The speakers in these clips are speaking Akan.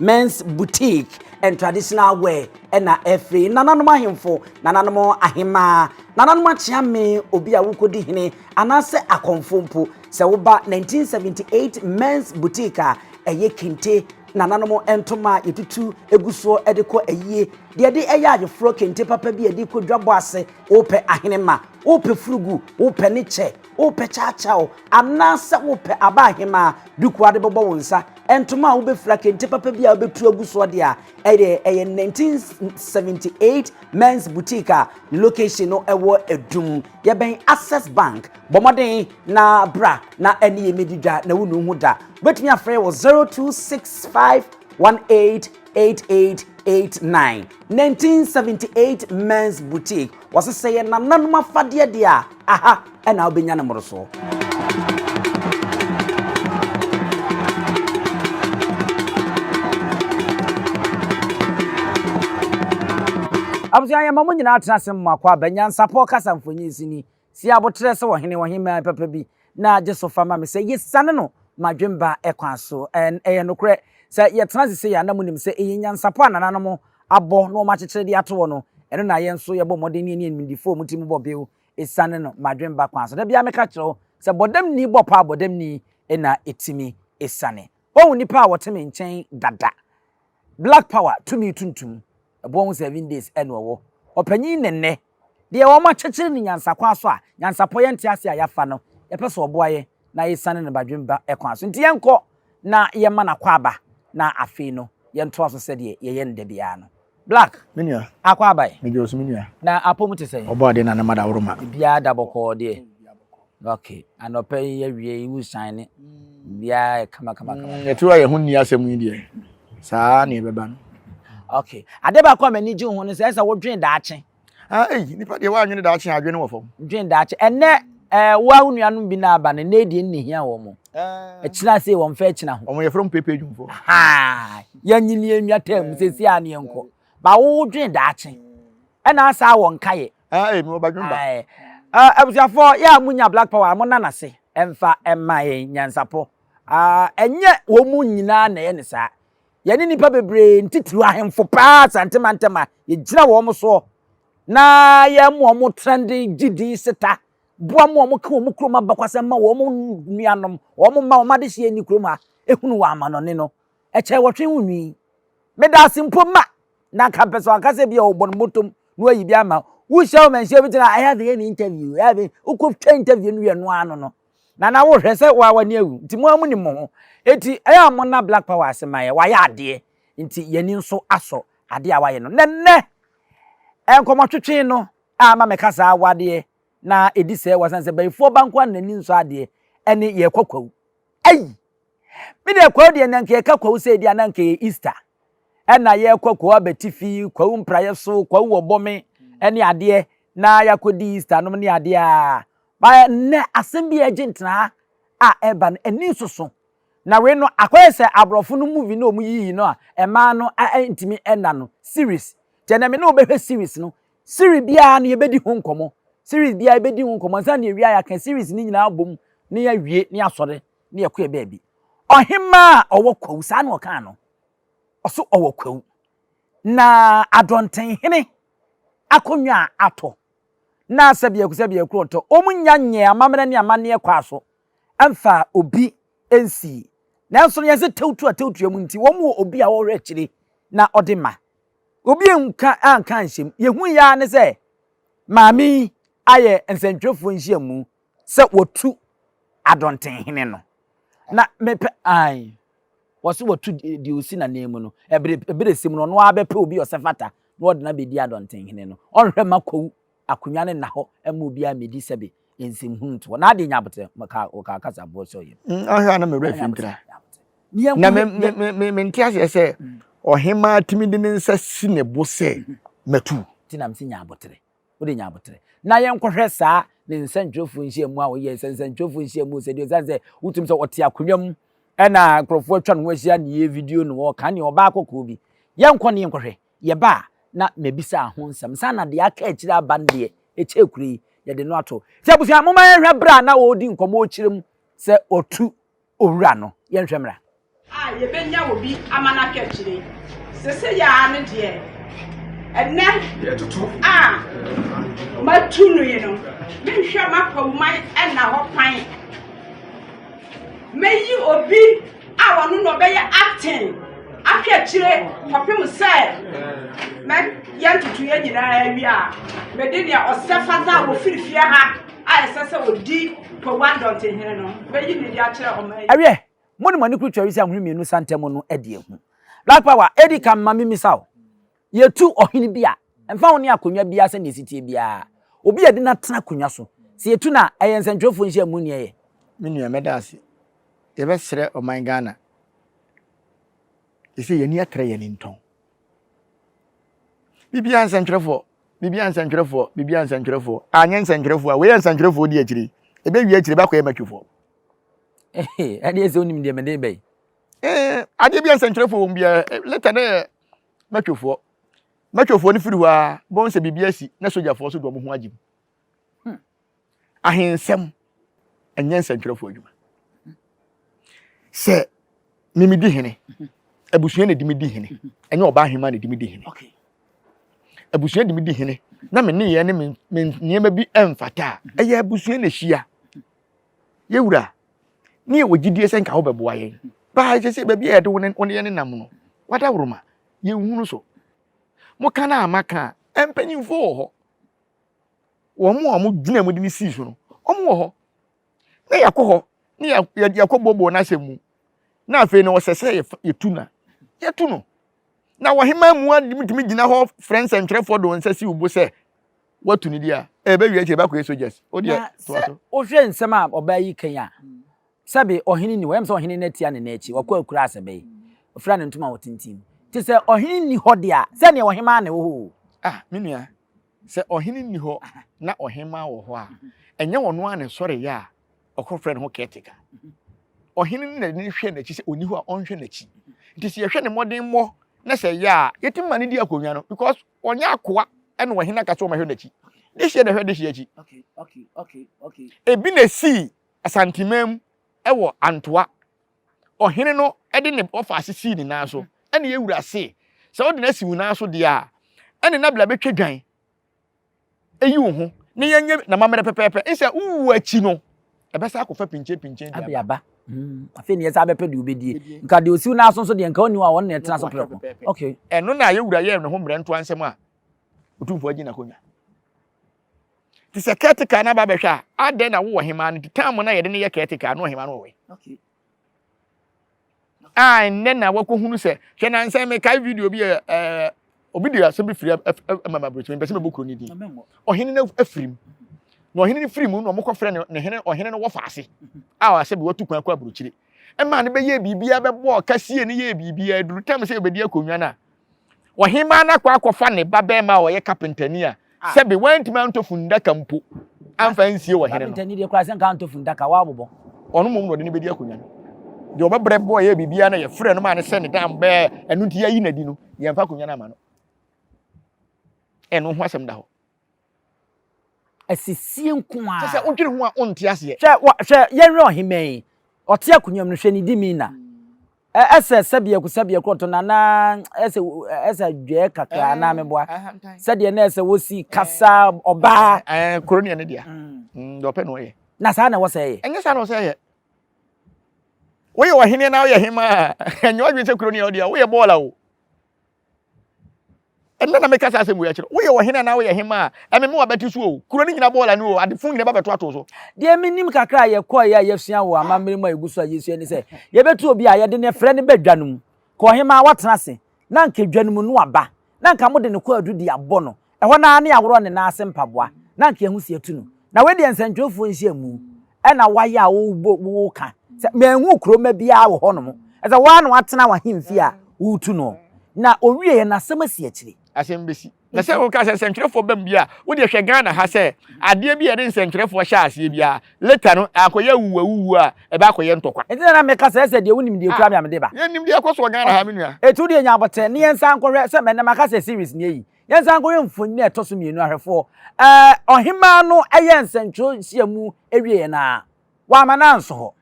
Men's Boutique and Traditional Wear ɛna ɛfiri nananom ahemfo, nananom ahemaa, nananom akyeame, obi a wokɔdi hene anaasɛ akɔmfo mpo. Sɛ woba 1978 Men's Boutique a, ɛyɛ kente nananom ntoma a yɛtutu egu soɔ ɛde kɔ ayie, deɛ ɛde ɛyɛ ayeforɔ kente papa bi a ɛde kɔ dwabɔ ase, wopɛ ahenemma, wopɛ furugu, wopɛ ne kyɛ, Wopɛ kyawkyaw anaasɛ wopɛ aba ahemaa, duku a wode bɛbɔ wo nsa, ntoma a wobɛfira, kente papa bi a wobɛtu agu soɔ deɛ a, ɛyɛ ɛyɛ 1978 Men's Boutique a ne location no ɛwɔ Adum. Yɛbɛn Access Bank. Bɔ mmɔden na bra na ɛne yɛn mmɛdi dwa na wonnu ho da. Wobɛtumi afrɛ yɛn wɔ 026518 8889 1978 Men's Boutique wɔse sɛ yɛ nananom afadeɛ deɛ a aha ɛna wobɛnya ne mmorosoɔ abusua yɛn ma mo nyinaa tena ase mmoa kɔ aba nyansapɔ kasa mfonyin sini Si aboterɛ sɛ ɔhene, ɔhemmaa papa bi, na gye so fa ma me sɛ yesiane no m'adwemba kwan so. Ɛn, ɛyɛ nokorɛ? Sɛ yɛtena ase sei a, na monim sɛ ɛyɛ nyansapɔ a nananom abɔ na wɔakyekyere de ato hɔ no, ɛno na yɛn nso yɛbɔ mmɔden ne yɛn animdefoɔ a wɔn tirim bɔ bew siane no m'adwemba kwan so. Da biara meka kyerɛ wo sɛ, bɔdamni bɔ paa bɔdamni na ɛtumi siane. Woahu nnipa a wɔte me nkyɛn dada? Black power, tumi tuntum, ɛboɔ ho seven days na ɔwɔ. Ɔpanyin Nɛnnɛ, deɛ wɔakyekyere no nyansakwan so a, nyansapɔ yɛ ntease a yɛafa no, yɛpɛ sɛ ɔboa yɛn na yɛsiane no badwemma ba kwan so. Nti yɛnkɔ na yɛmma no akwaaba na afei no yɛntoa so sɛdeɛ yɛyɛ no da biara no. Black, Me nua, Akwaaba ɛ? medwoɔ so me nua. Na apɔ mu te sɛn? Ɔbɔɔ adeɛ na ne mma da woro ma. Biribiara da bɔkɔɔ deɛ. Ok anɔpa yi awie yi wusan ne biara kama kama kama. Mm, yɛte hɔ a yɛn ho nni asɛm yi deɛ saa na ɛbɛba no. Ok ade baako a m'ani gye ho no sɛ ɛsɛ wodwen daakye. Ah, eyi nipa deɛ woanwene daakye a adwene wɔ fam. Dwen daakye ɛnɛ ɛɛ woa wo nuanom bi na aba no ɛnɛ deɛ nni hia wɔn mo. Ɛkyina se wɔn fɛ ɛkyina ho. Wɔn yɛ from pepe dwumfoɔ. Haa yɛnyi ni enwa tɛm sɛ si a ne yɛn kɔ. Ba wo dwen daakye ɛna asaa wɔn ka yɛ. Ae, mewɔ badwemma. Ae. Uh, abusuafoɔ, yɛ a monya Black Power a, monna no ase mfa mma yɛn nyansapo. Uh, ɛnyɛ wɔn mu nyinaa na ɛyɛ ne saa. Yɛne nnipa bebree ntitiriw ahemfo paa Asante mantam a yɛgyina wɔn soɔ na yɛma wɔn trɛnde gyidi seta boa ma wɔn ka wɔn kurom abakwasɛm ma wɔn nuanom, wɔn mma wɔn adehyeɛ nni kurom ha, ehunu wɔn amanɔne no. Ɛkyɛ wɔtwe ho nwi. Meda ase mpo ma na anka mpɛ sɛ ɔaka sɛ bia ɔbɔ no bɔtɔm na wayi bi ama wohyia wo manhyia obi tena ɛyɛ de yɛ ne interview ɛyɛ de wokɔtwa interview no wie no ano no na na wohwɛ sɛ woa w'ani awu nti mo a mo nim mo ho eti ɛyɛ a mo na black power ase ma yɛ wayɛ adeɛ nti yɛni nso asɔ adeɛ a wayɛ no na nnɛ nkɔmɔtwetwe no a ama mɛka saa wadeɛ na ɛdi sɛ wasan sɛ bayifoɔ banko a n'ani nsɔ adeɛ ɛne yɛkɔ kwawu ayi Me deɛ kwawu deɛ na nka yɛka kwawu sɛ ebi a na nka yɛ Easter ɛna yɛrekɔ kwawu abatifi kwawu mpraeɛ so kwawu wɔ bɔme ɛne adeɛ na yɛakɔdi Easter nom ne adeɛ a ba nnɛ asɛm bi a ɛgye ntenaa a ɛreba no ani nsoso na wei no akɔyɛ sɛ aborɔfo no movie no a wɔyiyi no a ɛmaa no ntumi ɛna no series nti ɛnɛ me ne wobɛhwɛ series no series biara no yɛbɛdi ho nkɔmmɔ series biara yɛbɛdi ho nkɔmmɔ nsa ne awia yɛaka series no nyinaa bom ne yɛawie ne asɔre ne yɛkɔɛ baabi. Ɔhemmaa a ɔwɔ kwawu, saa na ɔkaa no. Ɔso ɔwɔ kwawu. Na adɔntenhene akonnwa a atɔ, na sɛbiako sɛbiako ɔtɔ, wɔnnya nyɛɛ amammerɛ ne amanneɛ kɔɔ so mfaa obi nsii. Nanso no yɛ sɛ tawutu a tawutuɛ mu nti, wɔwɔ obi a ɔhwɛ akyire na ɔde ma. Obi anka anka anhyɛ mu. Yɛhui ara ne sɛ maame yi ayɛ nsɛntwerɛfoɔ nhyiamu Sɛ wɔtu Adɔntenhene no na mepɛ ae. Wɔse wɔtu deɛ ɔsi n'ananmu no, ɛbere ɛberɛsɛ mu no ɔno ara bɛpɛ obi a ɔsɛ fata na ɔde no abɛdi Adɔntenhene no. Ɔnhwɛ mma kwawu akonnwa no nna hɔ mma obiara mmɛdi sɛbe nsɛmhunu nto hɔ. N'adeɛ nyɛ aboterɛ, wɔkaa wɔkaa kasa boɔ sɛ ɔyɛ. Mm, ɔhwɛ a na me werɛ fi ntira. Na me, me, me, me, mente aseɛ sɛ ɔhemmaa tumi de ne nsa si ne bo sɛ matu. Nti na mese nyɛ aboterɛ. wode nya aboterɛ. Na yɛnkɔhwɛ saa ne nsɛntwerɛfoɔ nhyiamu a woyɛɛ sɛ nsɛntwerɛfoɔ nhyiamu sɛdeɛ ɛsiane sɛ wotumi sɛ ɔte akonnwa mu ɛna nkurɔfoɔ atwa ne ho ahyia ne yɛ video no ɔka ne ɔbaa kɔkɔɔ bi yɛnkɔ ne yɛnkɔhwɛ yɛba a na mabisaa ho nsɛm saa na deɛ aka akyire aba no deɛ ɛkyɛ kure yi yɛde no ato sɛ abusua moma yɛhwɛ berɛ a na ɔredi nkɔmmɔ ɔkyerɛ mu sɛ ɔtu owura no. Yɛnhwɛ mmra. A yɛbɛnya wɔ bi ama no aka akyire. Sese yɛ ara no deɛ, ɛnɛ a matu no yi no, menhwɛ m'apɔwman ɛna hɔ kwan. Mɛyi obi a ɔno na ɔbɛyɛ acting ahwɛ akyire kɔpem sɛ mɛ yɛntoto yɛ nyinaa awie a mede deɛ ɔsɛ fata wɔ firifie ha. a ɛsɛ sɛ ɔdi Powan dɔntehene no bɛyi no adi akyerɛ ɔman yi. Ɛwiɛ, mo ne mo ani kuru twɛre sɛ ahoni mmienu sa ntam no adi ahu. Black Power, Edi kan ma mimmisa wo, Yɛtu ɔhene bi a, ɛmfa ho ne akonnwa biara sɛnea ɛsi teɛ biara, obi a yɛde no atena akonnwa so, sɛ yɛtu no a, ɛyɛ nsɛntwerɛfoɔ nhyiamu ne ɛyɛ? Me nua, mɛda ase. Yɛbɛsrɛ ɔman Ghana, ɛsɛ yɛn ani atrɛ yɛn ani ntɔn. Biribiara nsɛntwerɛfoɔ, Biribiara nsɛntwerɛfoɔ, biribiara nsɛntwerɛfoɔ, anyɛ nsɛntwerɛfoɔ a, wei yɛ nsɛntwerɛfoɔ di akyire yi, ɛbɛwie akyire bɛakɔyɛ matwifoɔ. Ɛdeɛ sɛ wonim deɛ mede bɛyi. Eh, adeɛ bi a nsɛntwerɛfoɔ wɔm biara, eh, leta no yɛ matwifoɔ. Matwifoɔ no firi hɔ a, bɛhu sɛ biribi asi na sogyafoɔ so de wɔn ho agye mu. Hmm. Ahensɛm ɛnyɛ nsɛntwerɛfoɔ adwuma. Sɛ memedi hene, abusua na ɛdi me di hene, ɛnyɛ ɔbaa hema na ɛdi me di hene. Abusua di me di hene na me nneyɛɛ ne me nneɛma bi ɛmfata a, ɛyɛ abusua na ɛhyia. Yɛwura, ne yɛwɔ gyidie sɛ nka wobɛboa yɛn. Baa ɛsɛ sɛ baabi a yɛde wo ne yɛn nenam no, wadaworoma, yɛnhunu so. Moka no a maka a, ɛmpanyimfoɔ wɔ hɔ. wɔn a wɔgyinaa mu de no sii so no, wɔn wɔ hɔ. Na yɛakɔ hɔ na yɛakɔ boɔboɔ n'asɛm mu. Na afei no ɔsɛ sɛ yɛtu na yɛtu no. Na wɔhema mu adimtumi gyina hɔ frɛ nsɛntwerɛfoɔ de wɔn nsa si wo bo sɛ watu no di a, ɛbɛwie akyire ɛbɛkɔ yɛ soldiers. O deɛ toa so. Wohwɛ nsɛm a ɔbaa yi kan a, sɛbe ɔhene ni hɔ, ɛyɛ sɛ ɔhene no atia ne nan akyi, wakɔ akura asɛ bɛyi, ɔfira ne ntoma a ɔtintim. Te sɛ ɔhene ni hɔ deɛ a, sɛdeɛ ɔhemaa ne wɔ hɔ o. Ah, me nua. sɛ ɔhene nni hɔ na ɔhemmaa wɔ hɔ a, ɛnyɛ ɔno ara na ɛsɔreeɛ a ɔkɔfrɛ ne ho caretaker. Ɔhene no na n'ani hwɛ n'akyi sɛ ɔnni hɔ a ɔnhwɛ n'akyi. Nti sɛ yɛhwɛ ne mmɔdemmɔ na sɛ ɛyɛ a yɛtumi ma no di akonnwa no because ɔnyɛ akoa ɛna ɔhene aka sɛ ɔmɛhwɛ n'akyi. Dehyeɛ na ɛhwɛ dehyeɛ akyi. Okay, okay, okay, okay. Ebi na ɛsii Asanteman mu ɛwɔ Antoa ɔhene no de ne bɔfa ase sii ne nan so, ɛne yɛn wura se, sɛ wode no asi wo nan so deɛ a, ɛne na bla bɛtwa dwan eyi wo ho na yɛnyɛ n'amammerɛ pɛpɛɛpɛ, nsɛ wowu akyi no ɛbɛsa akɔfa pinkyenpinkyen de aba. aba. Mm, afei ne yɛsa bɛpɛ deɛ wobɛdie. Nka deɛ ɔsiw nan so nso deɛ nka ɔnni hɔ a ɔno na ɛtena so prɛko. Okay. Ɛno na yɛn wura yɛɛ ne ho mmerɛntoa nsɛm a Otumfoɔ agye n'akonnwa. Nti sɛ caretaker no aba bɛhwɛ a, adɛn na wowɔ hemaa no nti time no a yɛde no yɛ caretaker a na ɔhemaa no wɔ wei. Okay. A nnɛ na wakɔhunu sɛ hwɛ nansɛ mekae video bi yɛ ɛɛ obi de asɛm bi firi ɛma ma aburokyerɛ mpɛ sɛ mɛbɔ kuro no din ɔhene no afiri mu na ɔhene no firi mu na wɔkɔfrɛ no ne hene ɔhene no wɔfa ase a ɔasɛ bi watu kwan kɔ aburokyire ɛma no bɛyɛ biribiara bɛbɔ ɔkasie no yɛ biribiara duru tam sɛ yɛbɛdi akonnwa no a Ɔhemmaa no akɔ akɔfa ne babarima a ɔyɛ kapentani a sɛbe wantumi antɔ funnaka mpo amfa ansie wɔ hene no. Kapentani deɛ koraa sɛ nka antɔ funnaka, wabobɔ. Ɔno mmom na ɔde no bɛdi akonnwa no. Deɛ ɔbɛbrɛ bɔ yɛ biribiara na yɛfrɛ no maa no sɛ ne dan bɛɛ, ɛno nti yɛayi no adi no, yɛmfa akonnwa no ama no. Ɛno ho asɛm da hɔ. Asisie nko ara. Kyɛ sɛ wodwene ho a wonte aseɛ. Hwɛ wɔ hwɛ yɛnhwɛ ɔhemmaa yi ɔte akonnwa mu no hwɛ ne demeanor ɛ ɛsɛ sɛbiako sɛbiako ɔtɔ no anaa ɛsɛ ɛsɛ adwɛɛ kakra anaa meboa sɛdeɛ na ɛsɛ wosi kasa ɔbaa. Ɛɛ kuro neɛ ne dea deɛ ɔpɛ na ɔyɛ. Na saa na ɛwɔ sɛ ɛyɛ. Ɛnyɛ saa na ɛwɔ sɛ ɛyɛ. Woyɛ ɔhene na woyɛ hemmaa a ɛnyɛ ɔdwene sɛ kuro neɛ ɔdea woyɛ bɔɔla o ɛnna na meka saa asɛm wei akyerɛ woyɛ ɔhene anaa woyɛ hemmaa a ɛmeme w'abati so o kuro no nyina bɔɔla no o adefo nyina ba bɛtoato so. Deɛ menim kakra a yɛkɔeɛ a yɛasua wɔ amammerɛ mu a ɛgu so a yɛsua ne sɛ yɛbɛtu obi a yɛde no afira no ba dwa no mu, kɔ ɔhemmaa a watena ase na anka dwa no mu no aba na anka mode no kɔ adudi abɔ no Ɛhɔ no ara ne aworɔ ne nan ase mpaboa, na anka yɛn ho si atu no. Na wei deɛ nsɛntwerɛfoɔ nhyiamu na wɔayɛ a wobɔ mu woka sɛ, Manhunu kuro mma biara wɔ hɔnom. Ɛsɛ sɛ wo ara na woatena w'ahemfie a woretu noɔ. Na ɔwieeɛ no, asɛm asi akyire. Asɛm bɛsi. Na sɛ woka sɛ nsɛntwerɛfoɔ bam deɛ a, wo deɛ hwɛ Ghana ha sɛ adeɛ bi a yɛde nsɛntwerɛfoɔ hyɛ aseɛ biara, later no, akɔyɛ awuwuawuwuo a, ɛbɛakɔyɛ ntɔkwa. Ɛnti na na meka sɛ ɛsɛ deɛ wonim deɛ ɛkura me a mede ba. Yɛnnim deɛ ɛkɔ soɔ Ghana ha me nua. Ɛtu deɛ nya abotire ne yɛnsan nkɔhwɛ sɛ mɛnɛ maka sɛ series nie yi. Yɛnsan nkɔhwɛ mfoni a ɛtɔ so mmienu ahwɛfoɔ. Ɛɛ ɔhemaa no yɛ nsɛntwerɛ nhyiamu awieɛ no ara, wamma no anso hɔ.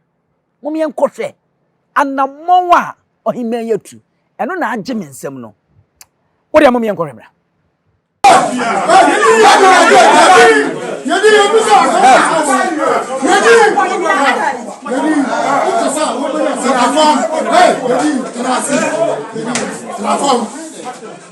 Mom yɛnkɔhwɛ anammɔn a ɔhemaa yi atu. Ɛno na agye me nsam no. Wodeɛ mom yɛnkɔhwɛ mmra. Hey,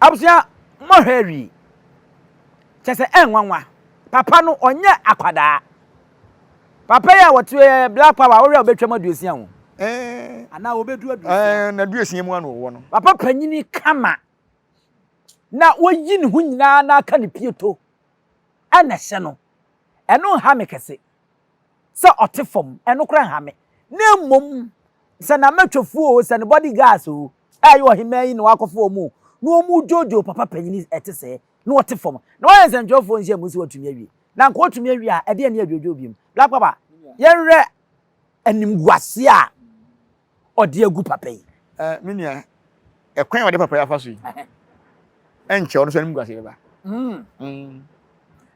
abusua mo hwɛ awie kyɛ sɛ ɛnwanwa papa no ɔnyɛ akwadaa papa yi a wɔte black power a wɔhwɛ a wɔbɛtwam aduosia ho anaa wɔbɛdu aduosia na aduosia mu ano wɔ no papa panyini kama na wayi ne ho nyinaa na aka ne pieto na ɛhyɛ no, ɛno nha me kɛse. Sɛ ɔte fam, ɛno koraa nha me. Na mmom, sɛ n'amatwafo oo, sɛ ne body guards oo, a ɛyɛ ɔhemmaa yi na wakɔfa wɔn oo, na wɔredwoodwoo papa panyin yi, ɛte sɛɛ, na ɔte fam, na wayɛ nsɛntwerɛfoɔ nhyiamu sɛ watumi awie, na anka ɔtumi awie a, ɛdeɛn ne adwoodwoo bio? Black Papa, yɛnhwɛ animguaseɛ a. ɔde agu papa yi. Eh, me nua, ɛkwan a wɔde papa yi afa so yi, ɛnkyɛ ɔno nso anim guase bɛba. Mm. Mm.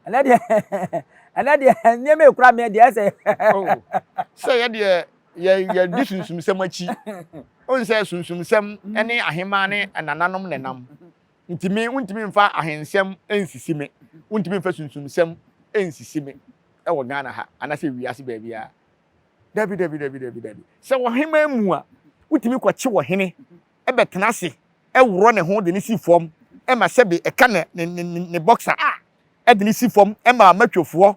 ɛnɛ deɛ ɛnɛ deɛ nneɛma ekura mɛ deɛ ɛsɛ. Oh, sɛ yɛ deɛ yɛ yɛ di sunsumsɛm akyi ohun sɛ sunsumsɛm mm. ne ahema ne nananom na nam ntumi ntumi nfa ahensɛm nsisi me ntumi nfa sunsumsɛm nsisi me ɛwɔ ghana ha anase wiase baabi a Dabi, dabi, dabi, dabi, dabi. Sɛ wɔ heman mu a, wotumi kɔkye ɔhene bɛtena ase worɔ ne ho de no si fam ma sɛbe ɛka ne, ne, ne, ne, ne bɔksa a, de no si fam ma amatwofoɔ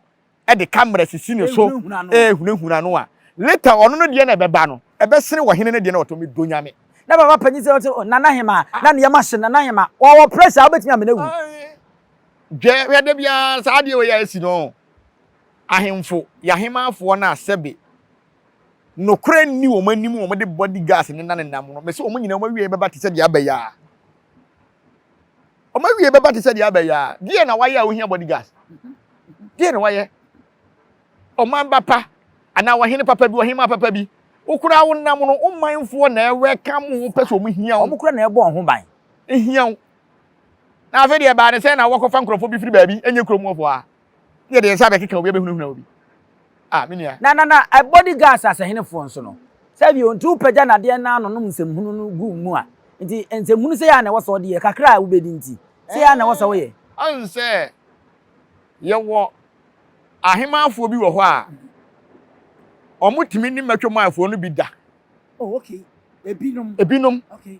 de kamera sisi ne so ɛrehunahuna no a, later ɔno no deɛ na ɛbɛba no, ɛbɛsene ɔhene no deɛ na ɔtɔ me dɔ nyame. Na baba panyin sɛ ɔte Nana Hema na ne yɛma hye Nana Hema ɔwɔ pressure a wobɛtumi amena wu. Dwɛ hwɛ da biara saa adeɛ wei a ɛsi no. Ahemfo yɛ ahemmanfoɔ no a sɛbe nokorɛ nni wɔn anim wɔn de body gas nena nenam no, mese wɔn nyinaa wɔn awieɛ bɛba te sɛ deɛ aba yaa. Wɔn awieɛ bɛba te sɛ deɛ aba yaa. Deɛ na wayɛ a wohia body gas? Deɛ na wayɛ? Ɔman ba pa anaa ɔhene papa bi, ɔhemaa papa bi, wo koraa wonam no, wo manfoɔ na ɛwɛkam wo, wopɛ sɛ wɔn hia wo. Wɔn koraa na ɛbɔ wɔn ho ban. Hia wo. Na afei deɛ ɛbaa ne sɛ na wɔkɔfa nkurɔfoɔ bi firi baabi, ɛnyɛ kurom hɔfoɔ a, ne yɛde yɛn nsa abɛkeka obi abɛhunahuna obi. Ah, me nua. Na, na, na body guards asahenefoɔ nso no, saa bio, nti wopagya no adeɛ na ɔnonom nsɛmhunu no gu mu a, nti nsɛmhunu sei ara na ɛwɔ sɛ ɔde yɛ, kakra a wobɛdi nti, sei ara na ɛwɔ sɛ woyɛ. Woahu sɛ yɛwɔ ahemanfoɔ bi wɔ hɔ a, wɔtumi ne mmɛtwam afoɔ no bi da. Oh, okay. Ebinom. Ebinom. Okay.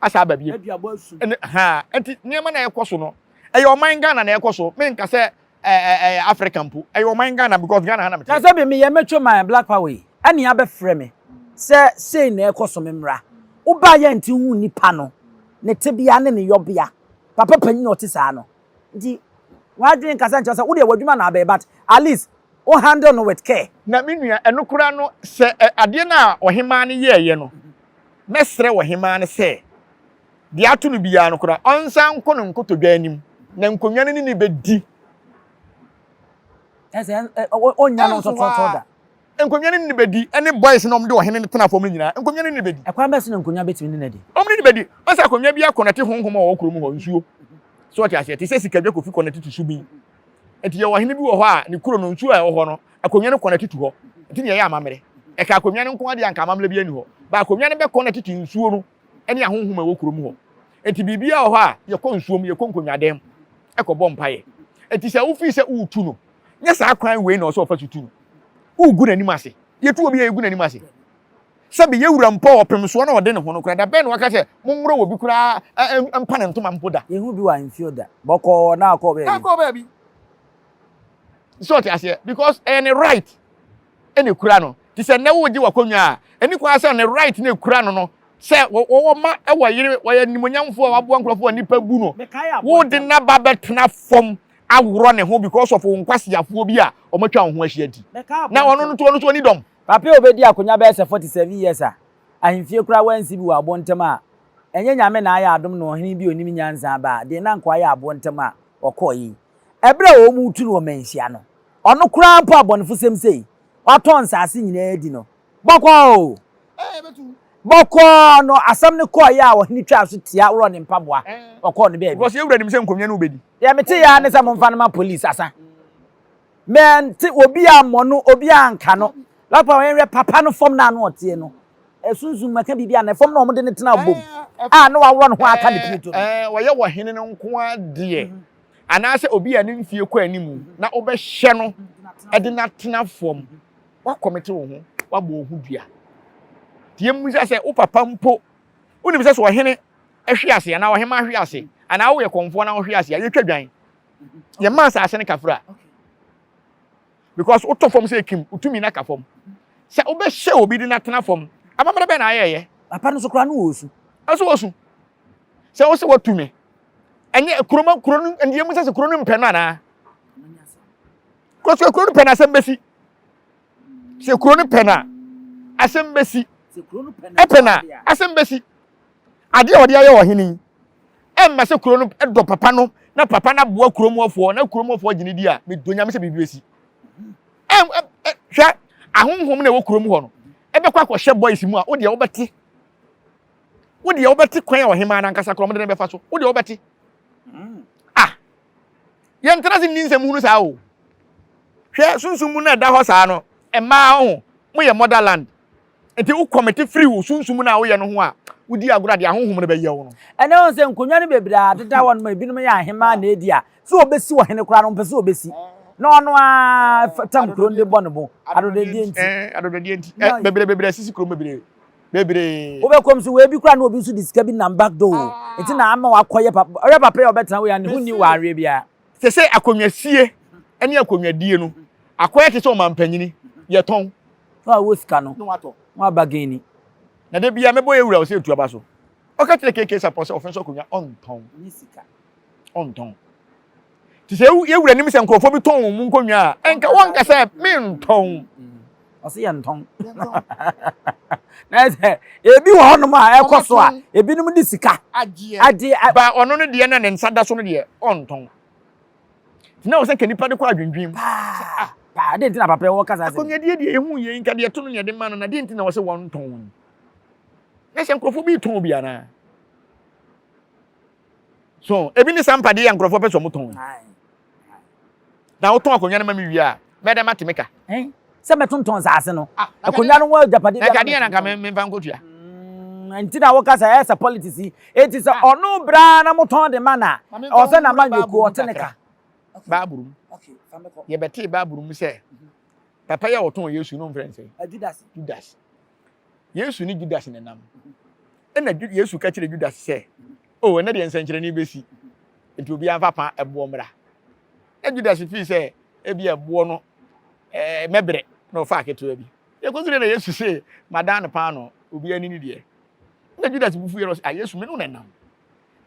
asa aba bio ɛne haa ɛnti nneɛma na ɛkɔ so no ɛyɛ ɔman Ghana na ɛkɔ so menka sɛ ɛɛ ɛyɛ Africa mpo ɛyɛ ɔman Ghana because Ghana ha na mete. Na sɛ me yɛ mɛtwa man Black Power yi ɛne abɛfrɛ me sɛ sei na ɛkɔ so me mmra wobaa yɛ nti hu nipa no ne tebea ne ne yɔbea papa panyin a ɔte saa no. Nti w'adwen kasa nkyerɛ sɛ wodeɛ w'adwuma na abɛyɛ but at least wo handle no with care. Na me nua, ɛno koraa no sɛ adeɛ no a ɔhemaa no yɛɛyɛ no, mɛsrɛ ɔhemaa no sɛ deɛ ato no biara no koraa ɔnsan nkɔ no nkotodwe anim na nkonnwa no ne no bɛdi Ɛsɛ ɔnnya no nso tɔɔtɔɔ da. Nkonnwa no ne no bɛdi, ɛne boys no a wɔde ɔhene no tena fam no nyinaa, nkonnwa no ne no bɛdi. Ɛkwan bɛn so na nkonnwa bɛtumi ne no adi? Wɔn ne no bɛdi. Ɔsɛ akonnwa biara kɔnɛte honhom a ɔwɔ kurom hɔ, nsuo. So wote aseɛ? Te sɛ sika dwa kofi kɔnɛte to subin. Enti yɛwɔ ɔhene bi wɔ hɔ a, ne kuro no, nsuo a ɛwɔ hɔ no, akonnwa no kɔnɛte to hɔ. Enti na yɛyɛ amammerɛ. Ɛka akonnwa no nko ara deɛ anka amammerɛ biara nni hɔ. But akonnwa no bɛkɔnɛte to nsuo no ne ahonhom a ɛwɔ kurom hɔ. Enti biribiara wɔ hɔ a, yɛkɔ nsuom, yɛkɔ nkonnwadan mu kɔbɔ mpaeɛ. Enti sɛ wofii sɛ woretu no, nyɛ saa kwan wei na ɔsɛ ɔfa so tu no wogu n'anim ase yɛtu obi a yɛgu n'anim ase sɛbe yɛwura mpɔ ɔpem soɔ na ɔde ne ho no koraa da bɛn na waka sɛ mommorɔ wɔ bi koraa mpa ne ntoma mpo da yɛhu bi wɔ ahemfie da bɔkɔɔ na akɔ baabi akɔ baabi sɛ ɔte aseɛ because ɛyɛ ne right ɛna ɛkura no te sɛ nnɛ wogye wakɔnwa a ɛne kwan sɛ ne right na ɛkura no no sɛ wɔwɔ ma ɛwɔ yere wɔyɛ nimonyamfoɔ a waboa nkurɔfoɔ a nnipa bu no wode naba bɛtena fam aworɔ ne ho because of wo nkwaseafoɔ bi a wɔatwa wo ho ahyia nti. Na ɔno nso ɔno nso ɔni dɔm. Papa a ɔbɛdi akonya bɛyɛ sɛ 47 years a ahemfie koraa wɔansi bi wɔ aboɔ ntam a ɛnyɛ Nyame na ayɛ adom na ɔhene bi a ɔnim nyansa aba a den na anka wayɛ aboɔ ntam a ɔkɔeɛ yi. Ɛberɛ a wɔretu no wɔ Manhyia no, ɔno koraa mpo abɔnefosɛm sei, watɔn nsase nyinaa di no, Bɔkɔɔ o! Bɔkɔɔ! No asɛm no kɔɔ yɛ a ɔhene twaa so tia worɔɔ ne mpaboa, ɔkɔɔ ne baabi. Because yɛn wura nim sɛ nkonnwa no wobɛdi. Deɛ mete yɛ ara ne sɛ momfa no ma police asa. Mente obi ammɔ no, obi anka no. Lɔɔre papa yɛnhwɛ papa no fam no a na ɔteɛ no, ɛsunsum mu, ɛka biribi anaa? Fam no a wɔde no tena abom a na waworɔ ne ho aka ne pireto no. Wɔyɛ wɔ hene no nko ara deɛ anaasɛ obi a ne mfeɛ kɔ anim na wobɛhyɛ no de no atena fam woakɔmete wo ho, woabɔ wo ho dua. Nti yɛmmisa sɛ, wo papa mpo, wonim sɛ sɛ ɔhene hwe ase anaa ɔhemmaa hwe ase anaa woyɛ kɔmfoɔ na wohwe ase a, yɛtwa dwan. Yɛmma asase no kafra. Because wotɔ fam sɛ ekim, wotumi no aka fam. Sɛ wobɛhyɛ obi de no atena fam, amammerɛ bɛn na ayɛɛyɛ? Papa no so koraa no wɔ osu. Ɛso wɔ su. Sɛ wo sɛ watu me, ɛnyɛ kuroma kuro no, ɛndeɛ mu sɛ sɛ kuro no mpɛ no anaa? Kɔ sɛ kuro no pɛ na asɛm bɛsi. Sɛ kuro no pɛ na asɛm bɛsi. Ɛpɛ na asɛm bɛsi. Adeɛ a wɔde ayɛ wɔ hene yi ɛmma sɛ kuro no dɔ papa no na papa no aboa kuromɔfoɔ na kuromɔfoɔ gyene di a medɔ nyame sɛ biribi bɛsi. Hwɛ ahonhom na ɛwɔ kurom hɔ no ɛbɛkɔ akɔhyɛ boys mu a wodeɛ wobɛte wodeɛ wobɛte kwan a ɔhemaa no ankasa korɔ mode no bɛfa so wodeɛ wobɛte Yɛntena ase nni nsɛm hunu saa o. Hwɛ sunsum mu no a ɛda hɔ saa no, mmaa ho, moyɛ motherland. Nti wo kɔmete firi wo sunsum mu no a woyɛ no ho a, wodi agorɔ a deɛ ahonhom no bɛyɛ wo no. Ɛnɛ wohu sɛ nkonnwa no bebree a deda hɔ nom a ebinom yɛ ahemaa na edi a, sɛ wɔbɛsi ɔhene koraa no wɔmpɛ sɛ wɔbɛsi. Na ɔno ara tam kuro no de bɔ ne bo, adɔdɔdeɛ nti. Ɛɛ, adɔdɔdeɛ nti. Bebree bebree asisi kurom bebree. bebree. Wobɛ kɔm so wei bi kura na obi nso de sika bi nam back door o. Ah. Nti na ama wakɔ yɛ papa. Ɔyɛ papa yɛ ɔbɛtena wei a ne ho ni wɔ aweɛ biara. Sɛ sɛ akonnwasie ne akonnwadie no akɔyɛ te sɛ ɔmampanyini yɛtɔn. Na wawɔ sika no. Na watɔ. Na waba geni. Na da biara mɛbɔ yɛ wura ɔsɛ etu aba so. Ɔka kyerɛ KK sapɔ sɛ ɔfɛn so akonnwa ɔntɔn. Ɔntɔn. te sɛ yɛ wura nim sɛ nkurɔfoɔ bi tɔn wɔn nkonnwa a ɛnka wɔnka sɛ mentɔn ɔse yɛ ntɔn na sɛ ebi wɔ hɔnom a ɛkɔ so a ebinom de sika agyeɛ ba ɔno no deɛ na ne nsa da so no deɛ ɔntɔn na wɔ sɛ nka nipa de kɔ adwendwen mu ah, paa de nti na papa wɔ kasa sɛ akɔnyadeɛ deɛ ɛhu yɛ nka deɛ to no deɛ de ma no na deɛ nti na wɔ sɛ wɔntɔn na sɛ nkurɔfoɔ bi tɔn bi anaa so ebi ne saa mpadeɛ yɛ nkurɔfoɔ pɛ sɛ ɔmo tɔn na wotɔn akonnwa no ma me wie a mɛda mate me ka sɛ mɛtontɔn saase no ah, akonnwa no ho agyapadeɛ bi akadeɛ na nka memfa nkɔtua mm, nti na woka sɛ ɛsɛ politics yi enti sɛ ah. ɔno braa na motɔn de ma na ɔsɛ na ma nyɛkuo ɔte ne ka baaboro mu yɛbɛtee baaboro mu sɛ papa yɛ ɔtɔn yesu no mfrɛ nsɛ judas Yesu ne Judas na ɛnam. Ɛna Yesu ka kyerɛ Judas sɛ, o, oh, ɛnɛ deɛ nsɛnkyerɛnne bɛsi, nti obiara mfa pa ɛboɔ mmra. Na Judas fii sɛ ebi ɛboɔ no ɛɛ eh, mɛbrɛ na ɔfa aketewa bi. Yɛkɔsi deɛ na Yesu se, madan no paano, obiara ni ne deɛ. Na Judas bufu yɛ no sɛ, a ah, Yesu me no na ɛnam.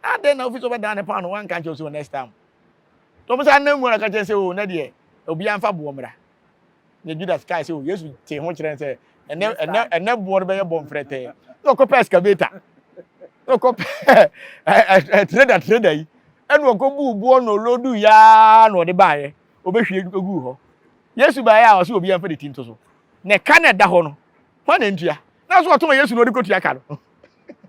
Adɛn na ofi sɛ ɔbɛdan no paano, wanka nkyɛw sɛ next time. Tɔm sɛ anam mu na ka kyerɛ sɛ, o, oh, ɛnɛ deɛ obiara mfa boɔ mmra. na Judas kae sɛ, o, Yesu tee ho kyerɛɛ no sɛ, ɛnɛ, ɛnɛ, ɛnɛ boɔ no bɛyɛ bɔ mfrɛtɛɛ. Na ɔkɔpɛ excavator. Na ɔkɔpɛ trader, trader yi. Ɛna ɔkɔbuu boɔ na ɔlodu yaa na ɔde baeɛ. Ɔbɛhwie guu hɔ. Yesu baeɛ a, ɔsɛ obiara mfa ne ti nto so. Na ɛka na ɛda hɔ no, hwan na ɛntua? Na nso ɔtɔn Yesu na ɔde kɔtua ka no.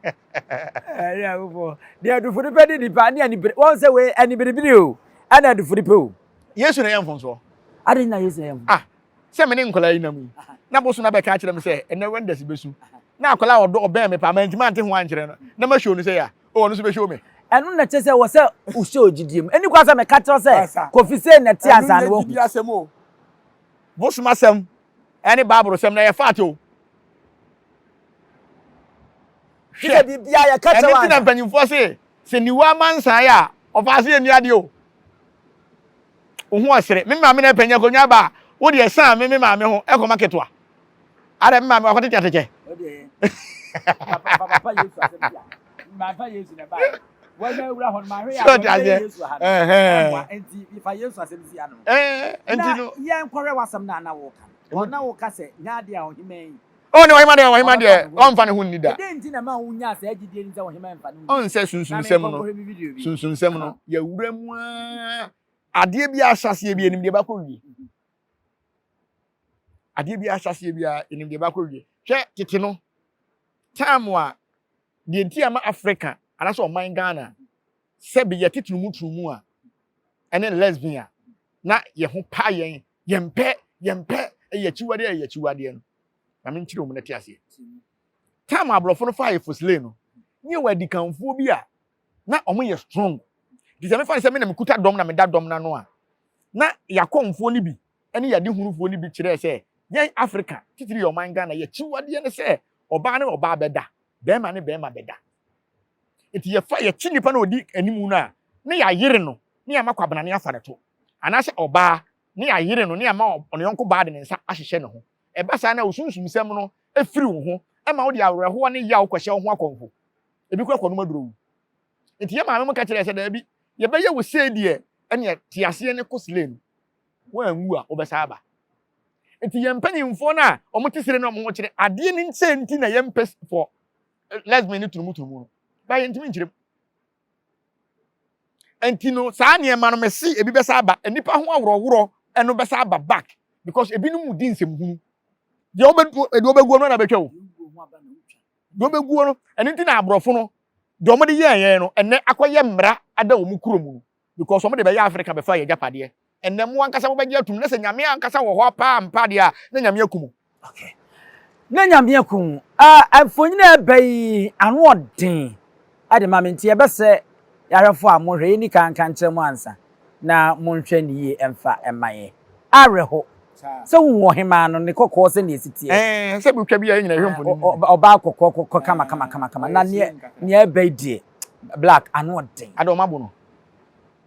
Ɛyɛ agofoɔ. Deɛ adufo no pɛ ne nipa ne anibere. Wɔn sɛ wei anibere biri o, ɛna adufo no pɛ o. Yesu na yɛ mfonsoɔ. Adi na Yesu na yɛ mfonsoɔ. Ah, sɛ me ne nkwadaa yi nam yi, na boso na bɛka akyerɛ me sɛ ɛnɛ Wednesday bɛsu. Na akwadaa ɔdɔ ɔbɛn me paa, mantumi ante ho ankyerɛ no. Na ma show no sɛ ya, o ɔno nso bɛ show me. Ɛno na kyerɛ sɛ wɔ sɛ wohyɛ ogyidie mu. Ɛni kwan sɛ meka kyerɛ sɛ Kofi sei na ɛte ansa na wahu. Asɛm o. Bosom asɛm ɛne Bible sɛm na yɛ faate o. Hwɛ, ɛno ti na mpanyinfoɔ se. Sɛ niwa amansan a, ɔfa ase yɛ ni adeɛ o. Wo ho ɔsere. Me maame na ɛpɛ nyɛ konwa ba a, wo deɛ san me me maame ho ɛkɔ ma ketewa. Ara me maame wakɔ tete atete. Sɛ ɔte aseɛ. Ɛhɛn. Ɛnti no. O ne ɔhemma deɛ, ɔhemma deɛ, ɔmfa ne ho nni da. Ɔnsɛ sunsunsɛm no, sunsunsɛm no, yɛwura mu ara, adeɛ bi ahyɛseɛ bi anim deɛ bakɔ wie. Adeɛ bi ahyɛseɛ bi anim deɛ bakɔ wie. Hwɛ tete no, time a deɛ nti ama Africa anaasɛ ɔman Ghana sɛ beyɛ tetromutrumu a ɛne lesbian a na yɛn ho pa yɛn, yɛn pɛ, yɛn pɛ, ɛyɛ akyiwadeɛ, ɛyɛ akyiwadeɛ no. Na me nkyerɛ wɔn na te aseɛ. Tam aborɔfo no faa efosile no, ne yɛ wɔ adikanfoɔ bi a na wɔn yɛ strong. Nti sɛ mefa ne sɛ me na mekuta dɔm na meda dɔm n'ano a, na yakɔmfoɔ no bi ɛne yadehunufoɔ no bi kyerɛɛ sɛ yɛn Africa, titiri yɛ ɔman Ghana, yɛ akyiwadeɛ ne sɛ ɔbaa ne ɔbaa bɛda, bɛrima ne bɛrima bɛda. Enti yɛfa yɛkye nnipa no a ɔdi anim no a, na yɛayere no na yɛama Kwabena no afa ne to. Anaasɛ ɔbaa, na yɛayere no na yɛama ɔyɔnko baa de ne nsa ahyehyɛ ne ho. Ɛba saa na wo sunsumsɛm no firi wo ho ma wode awerɛhoɔ ne yaw kɔhyɛ wo ho akɔmfo. Ebi koraa kɔnom aduro wu. Enti yɛn maame mo ka kyerɛɛ sɛ, Daabi, yɛbɛyɛ wo sei deɛ, ɛnneɛ te aseɛ ne kɔ Slee no. Woanwu a, wobɛsan aba. Enti yɛn mpanimfoɔ no a wɔte Slee no a wɔkyerɛ adeɛ no sei nti na yɛmpɛ fɔ. lesbian no turumuturumu no baa yɛntumi nkyerɛ mu nti no saa nneɛma no mɛsi ebi bɛsa aba nnipa ho aworɔworɔ ɛno bɛsa aba back because ebinom mu di nsɛm hunu deɛ wɔbɛ deɛ wɔbɛguo no na bɛtwa o deɛ wɔbɛguo no ɛno nti na aborɔfo no deɛ wɔde yɛɛ yɛn no ɛnɛ akɔyɛ mmara ada wɔn kurom no Because wɔn de bɛyɛ Africa bɛfaa yɛn agyapadeɛ. Ɛnnɛ mo ankasa mo bɛgye atum na sɛ Nyame ankasa wɔ hɔ paa ampa deɛ a na Nyame aku mo. Okay. Na Nyame aku mo. Ah, mfonyini a ɛba yi ano ɔden de ma me nti ɛbɛsɛ yɛahwɛfoɔ a mo hwɛ yɛnni kan nka nkyerɛ mo ansa na mo nhwɛ no yie mfa mma yɛn. Awerɛho. Sɛ wo hu ɔhemaa no ne kɔkɔɔ sɛdeɛ ɛsi teɛ. Ɛɛ, sɛ bi twa bi a yɛn nyina yɛhwɛ mfonini. Ɔbaa kɔkɔɔ kɔkɔɔ kama kama kama kama na neɛ neɛ ɛba yi deɛ. black ano ɔden. Ade ɔmo abo no.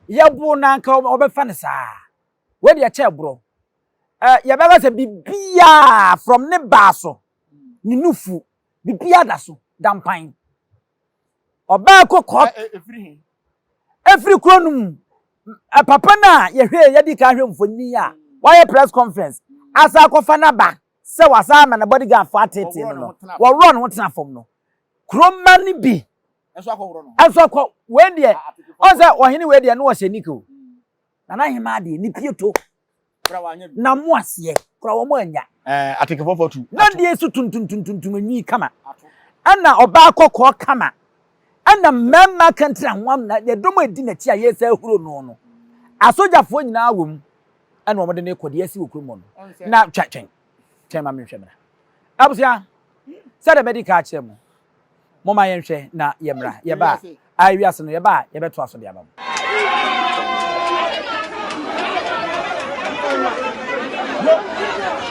Yɛbo no anka ɔbɛfa no saa. Wei deɛ ɛkyɛɛ borɔ. Eh, yɛbɛka sɛ bibiaa from ne baa so, ne nufu, bibiaa da so, da mpan. Ɔbaa kɔ kɔɔt. Efiri he? Efiri kuro no mu. Papa no a yɛhwɛ, yɛdi kan hwɛ mfoni a, wayɛ press conference, asa akɔfa n'aba. sɛ wasan ama ne bodyguardfo ateetee no no, wɔworɔɔ ne ho tenaa fam no, kurom mma no bi nso akɔ. Wei deɛ, ɔn sɛ ɔhene wei deɛ, na ɔhyɛ nik o. Na n'ahemaa deɛ, ne pieto, na mo aseɛ, kora wɔn anya. Atekefoɔfoɔ tu. Na deɛ so tuntuntuntuntum enwi kama, ɛna ɔbaa kɔkɔɔ kama, ɛna mmarima akantiranhoam na ɛdɔm a ɛdi n'akyi a yɛresa ahuro no no, asogyafoɔ nyinaa wɔ mu. ɛna wɔn de ne kɔ deɛ asi wɔ kurom hɔ no na twa twɛn twɛn ma menhwɛ mmra abusua sɛdeɛ mɛdi ka akyerɛ mu mo ma yɛnhwɛ na yɛmmra yɛba a wiase no yɛba a yɛbɛto aso de aba mu.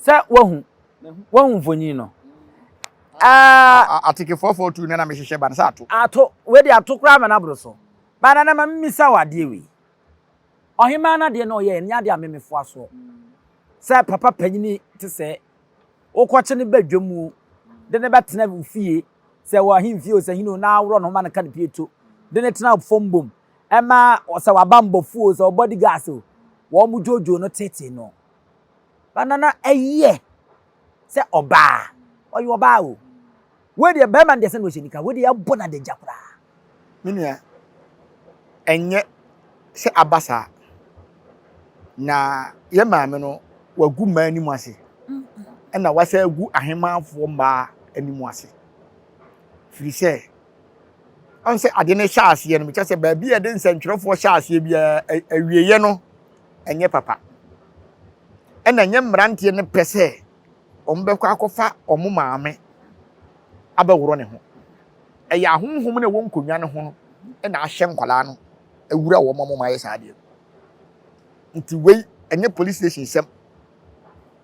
Sɛ wahu wahu mfonyin no. Ɛɛ. Atike four four two no na mehyehyɛ ba no sɛ ato. Ato wei de ato koraa ma no aboro so. Ba nana ma mimisa wo adeɛ wei. Ɔhemaa no adeɛ na ɔyɛɛ ɛnyɛ adeɛ a me mefoa soɔ. Sɛ papa panyini te sɛɛ wokɔkye no ba dwam o de no bɛtena wo fie sɛ wɔ ahemfie o sɛ hene o na aworɔ ne ho ma no ka ne pie to de no tena fam bom ɛma sɛ wabanbɔfoɔ o sɛ ɔbɔdigas o wɔn dwoodwoo no teetee no. ba na na ɛyɛ sɛ ɔbaa ɔyɛ ɔbaa o wei deɛ bɛrima no deɛ sɛ na ɔhyɛ nika wei deɛ ɛbɔ no adagya koraa me nua ɛnyɛ sɛ aba saa na yɛ maame no wagu mmaa anim ase ɛna wasa agu ahemanfoɔ mmaa anim ase firi sɛ ɔn sɛ ade no hyɛ aseɛ no mekyɛ sɛ baabi a yɛde nsɛntwerɛfoɔ hyɛ aseɛ biara awieɛ no Ɛnyɛ papa. Ɛna ɛnyɛ mmeranteɛ no pɛ sɛ wɔbɛkɔ akɔfa wɔn maame abɛworɔ ne ho. Ɛyɛ ahonhom no a ɛwɔ nkonnwa no ho no na ahyɛ nkwadaa no awura wɔn ma wɔn ayɛ saa adeɛ no. Nti wei ɛnyɛ police station sɛm,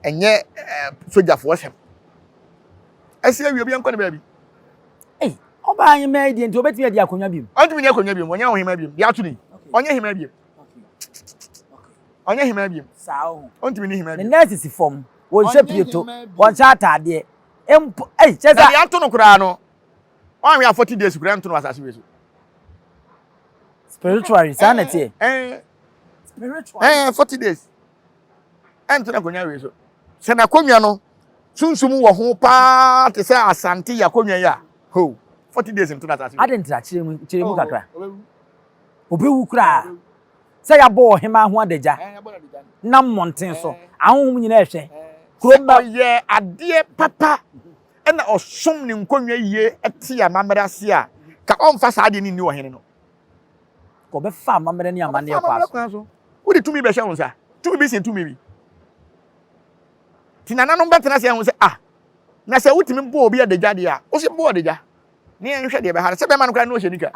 ɛnyɛ ɛɛ sogyafoɔ sɛm. Ɛsɛ awie obi nkɔ ne baabi. Ei, ɔbaa ahemmaa yi deɛ nti obetumi adi akonnwa biom? Ɔntumi ni akonnwa biom, ɔnyɛ ɔhemmaa biom, deɛ ato ne yi, ɔnyɛ hemmaa biom. ɔnyɛ hemaa biom ɔntumi ne hemaa biom ne nɛɛse si fam wɔnhyɛ pieto wɔnhyɛ ataadeɛ mpo ɛyi kyɛ sɛ ɛdeɛ nto no koraa no wɔn a afɔti deɛ sukura nto no asase wei so spiritually saa na ɛteɛ spiritually ɛɛ forty days ɛnto no akonnwa wei so sɛ n'akonnwa no sunsum wɔ ho paa te sɛ asante yɛ akonnwa yi a ho forty days nto no asase wei adi ntra kyerɛ mu kyerɛ mu kakra Obewu koraa sɛ yɛabɔ ɔhemmaa ho adagya nam mmɔnten so. Ahonhom nyinaa rehwɛ. Kurom bɛ. Sɛ ɔyɛ adeɛ papa na ɔsom ne nkonnwa yie te amammerɛ ase a, ka ɔmfa saa adeɛ no nni ɔhene no. Ka ɔbɛfa amammerɛ ne amanneɛ kwa so. Wode tumi bɛhyɛ wo nsa. Tumi bi sen tumi bi. Te nananom bɛtena ase ahu sɛ, ah, na sɛ wotumi bɔ obi adagya deɛ a, wo nso bɔ adagya. ne yɛn nhwɛ deɛ ɛbɛha no sɛ bɛrima no koraa ne ɔhyɛ nika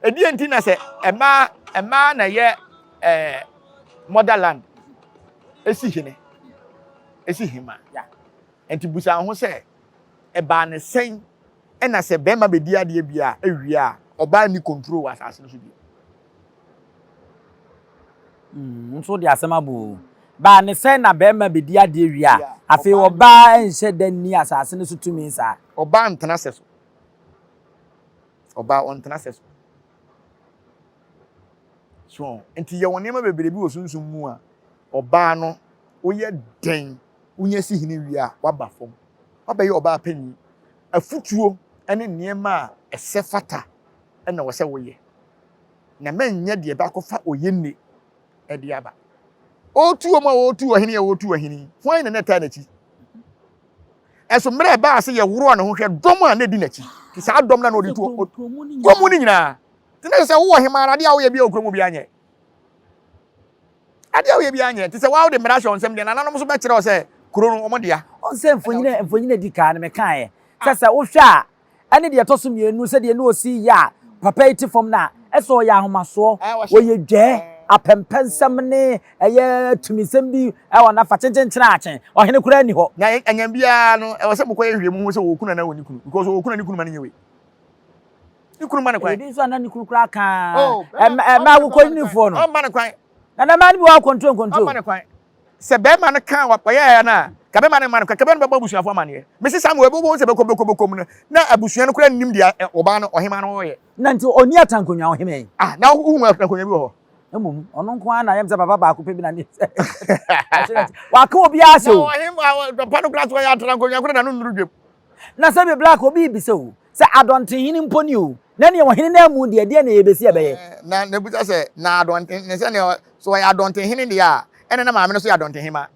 ɛdeɛ nti na sɛ ɛmaa ɛmaa na ɛyɛ ɛɛ motherland ɛsi hene ɛsi hema nti busa ho sɛ ɛbaa ne sɛn ɛna sɛ bɛrima bɛdi adeɛ bi a ɛwie a ɔbaa ni control wɔ asase no so bi Mm, wo nso wode asɛm abɔ o. Baa ne sɛ na barima bedi adeɛ wie a, afei ɔbaa nhyɛ da nni asase no so tumi saa. Ɔbaa ntena sɛ so. Ɔbaa ɔntena sɛ so. So, nti yɛwɔ nneɛma bebree bi wɔ sunsum mu a, ɔbaa no woyɛ dɛn wonya si hene wie a, waba fam. Wabɛyɛ ɔbaa panyin. Afutuo ne nneɛma a ɛsɛ fata na wɔ sɛ woyɛ. na manyɛ deɛ bɛakɔfa oyenni de aba. Ɔretu wɔn a wɔretu ɔhene a wɔretu ɔhene yi, hwan na na ɛtaa n'akyi? Ɛso mmerɛ ɛbaa sɛ yɛworɔɔ ne ho hwɛ dɔm a na ɛdi n'akyi, te saa dɔm no a na ɔde tu kurom no nyinaa. Te na sɛ wowɔ hema ara, adeɛ a woyɛ biara wɔ kurom obiara nyɛ. Adeɛ a woyɛ biara nyɛ. Te sɛ woa wode mmara hyɛ nsɛm deɛ, nananom nso bɛkyerɛ wo sɛ kuro no wɔn dea. Ɔnsɛ mfonyini a mfonyini a ɛdi kan no mekaeɛ sɛ sɛ wohwɛ a. ɛne deɛ ɛtɔ so mmienu sɛ deɛ ne ɔsi yɛ a papa yi te fam no a, ɛsɛ ɔyɛ ahomasoɔ, ɔyɛ dwɛɛ, apɛmpɛnsɛm ne ɛyɛ tumisɛm bi ɛwɔ nafa kyenkyenkyene akye, ɔhene koraa nni hɔ. Na ɛnyɛ biara no ɛwɔ sɛ mokɔyɛ hwehwɛ mu ho sɛ ɔwɔ kunu anaa ɔnni kunu because ɔwɔ kunu a ne kunu ma no nyɛ wei. Ne kunu ma no kwan. Ɛyɛ bi nso a na ne kunu koraa kaa ɛmɛ ɛmɛ awokɔyinifoɔ no. Ɔmma no kwan. Na na mmaa no bi wɔ akɔntro nkɔntro. Ɔmma no kwan. Sɛ bɛɛma no kaa ɔyɛɛ ya no a, nka bɛɛma no mma no kwan, nka bɛɛma no bɛbɔ abusuafo amaneɛ. Mese saa ma wɔbɛbɔ wɔn sɛ bɛkɔ bɛkɔ bɛkɔ mu no, na abusua no koraa nnim deɛ ɔbaa no, ɔhemaa no reyɛ. Na nti ɔnni atankonwa, ɔhene? Ah, na wohu atankonwa bi wɔ hɔ? Mmom, ɔno nko ara na ɛyɛ me sɛ papa baako pɛ bi na ne sɛ ɔkyerɛ nti, waka obiara ahyɛ o. Na ɔhemaa pa no koraa so, ɔyɛ atankonwa koraa na no nnuru dwam. Na sɛ bebla ka obi rebisa o, sɛ adɔnten hene mpo ni o, na nea wɔ hene no amu deɛ, deɛn na ɛyɛ bɛsi ɛbɛyɛ? Na n'abusa sɛ, Na adɔnten, ne sɛ nea so ɔyɛ adɔnten hene deɛ a, ɛnna na maame no nso yɛ adɔnten hema.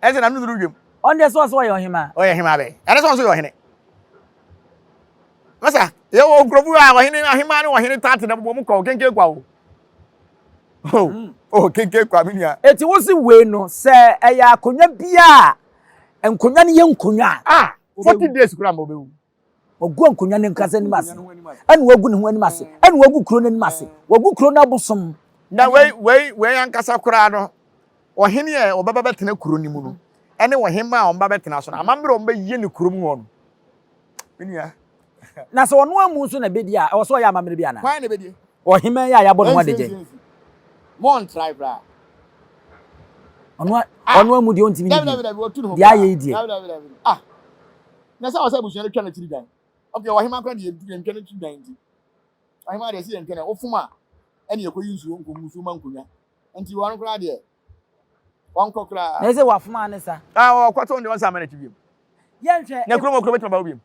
Ɛne sɛ na no duru dwam. Ɔno deɛ so ɔse ɔyɛ ɔhema. Ɔyɛ hema bɛn? Ɛne sɛ ɔno nso yɛ ɔhene. Masa, yɛwɔ nkurɔfo a ɔhene, ahema ne ɔhene tate na wɔn kwa o, kenken kwa o. Oh, oh, kenken kwa, me nua. Eti wo se wei no, sɛ ɛyɛ akonnwa bi a nkonnwa no yɛ nkonnwa a. Ah, forty days kura ma obewu. Wagu nkonnwa no nkasa anim ase, ɛna wagu ne ho anim ase, ɛna wagu kuro no anim ase, wagu kuro no abosom. Na wei wei wei ankasa koraa no, ɔhene yɛ ɔbɛba bɛtena kuro no mu no, ɛne ɔhemmaa a ɔbɛba bɛtena so no, amammerɛ a ɔbɛyɛ ne kurom hɔ no. Me nua. Na sɛ ɔno amu nso na bedi a, ɛwɔ sɛ ɔyɛ amammerɛ bi anaa? Hwan na bedi? Ɔhemmaa yi a yɛabɔ ne ho adagyan. Montrae koraa. Ɔno ah! ɔno amu deɛ ɔntumi ne bi. Deɛ ayɛ yi deɛ. Ah! Na sɛ ɔsɛ abusua no twa n'akyiri dan. Okay, ɔhemmaa koraa deɛ yɛntwa n'akyiri dan nti. Ɔhemmaa deɛ sɛ yɛntwa no, wofom a, ɛne yɛkɔyi nsuo nkɔngu nsuo ma nkonnwa. Nti ɔno koraa deɛ. Wɔnkɔ koraa. Na ɛsɛ wafoma ano sa. Ah, ɔkɔto ndeɛ ɔnsa ama n'akyi biom. Yɛnhwɛ. Na kurom okuro bɛtuma ba hɔ biom.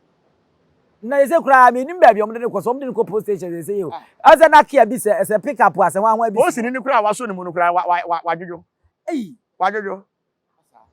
Na ɛsɛ koraa mi nim baabi ɔmo de ne kɔ so ɔmo de ne kɔ post station sɛ ɛsɛ yɛ o. Ɛsɛ na kia bi sɛ ɛsɛ pick up asɛ wɔn ahoa bi. Osi ne ni koraa waso ne mu no koraa wa wa wa wadwodwo. Eyi. Wadwodwo.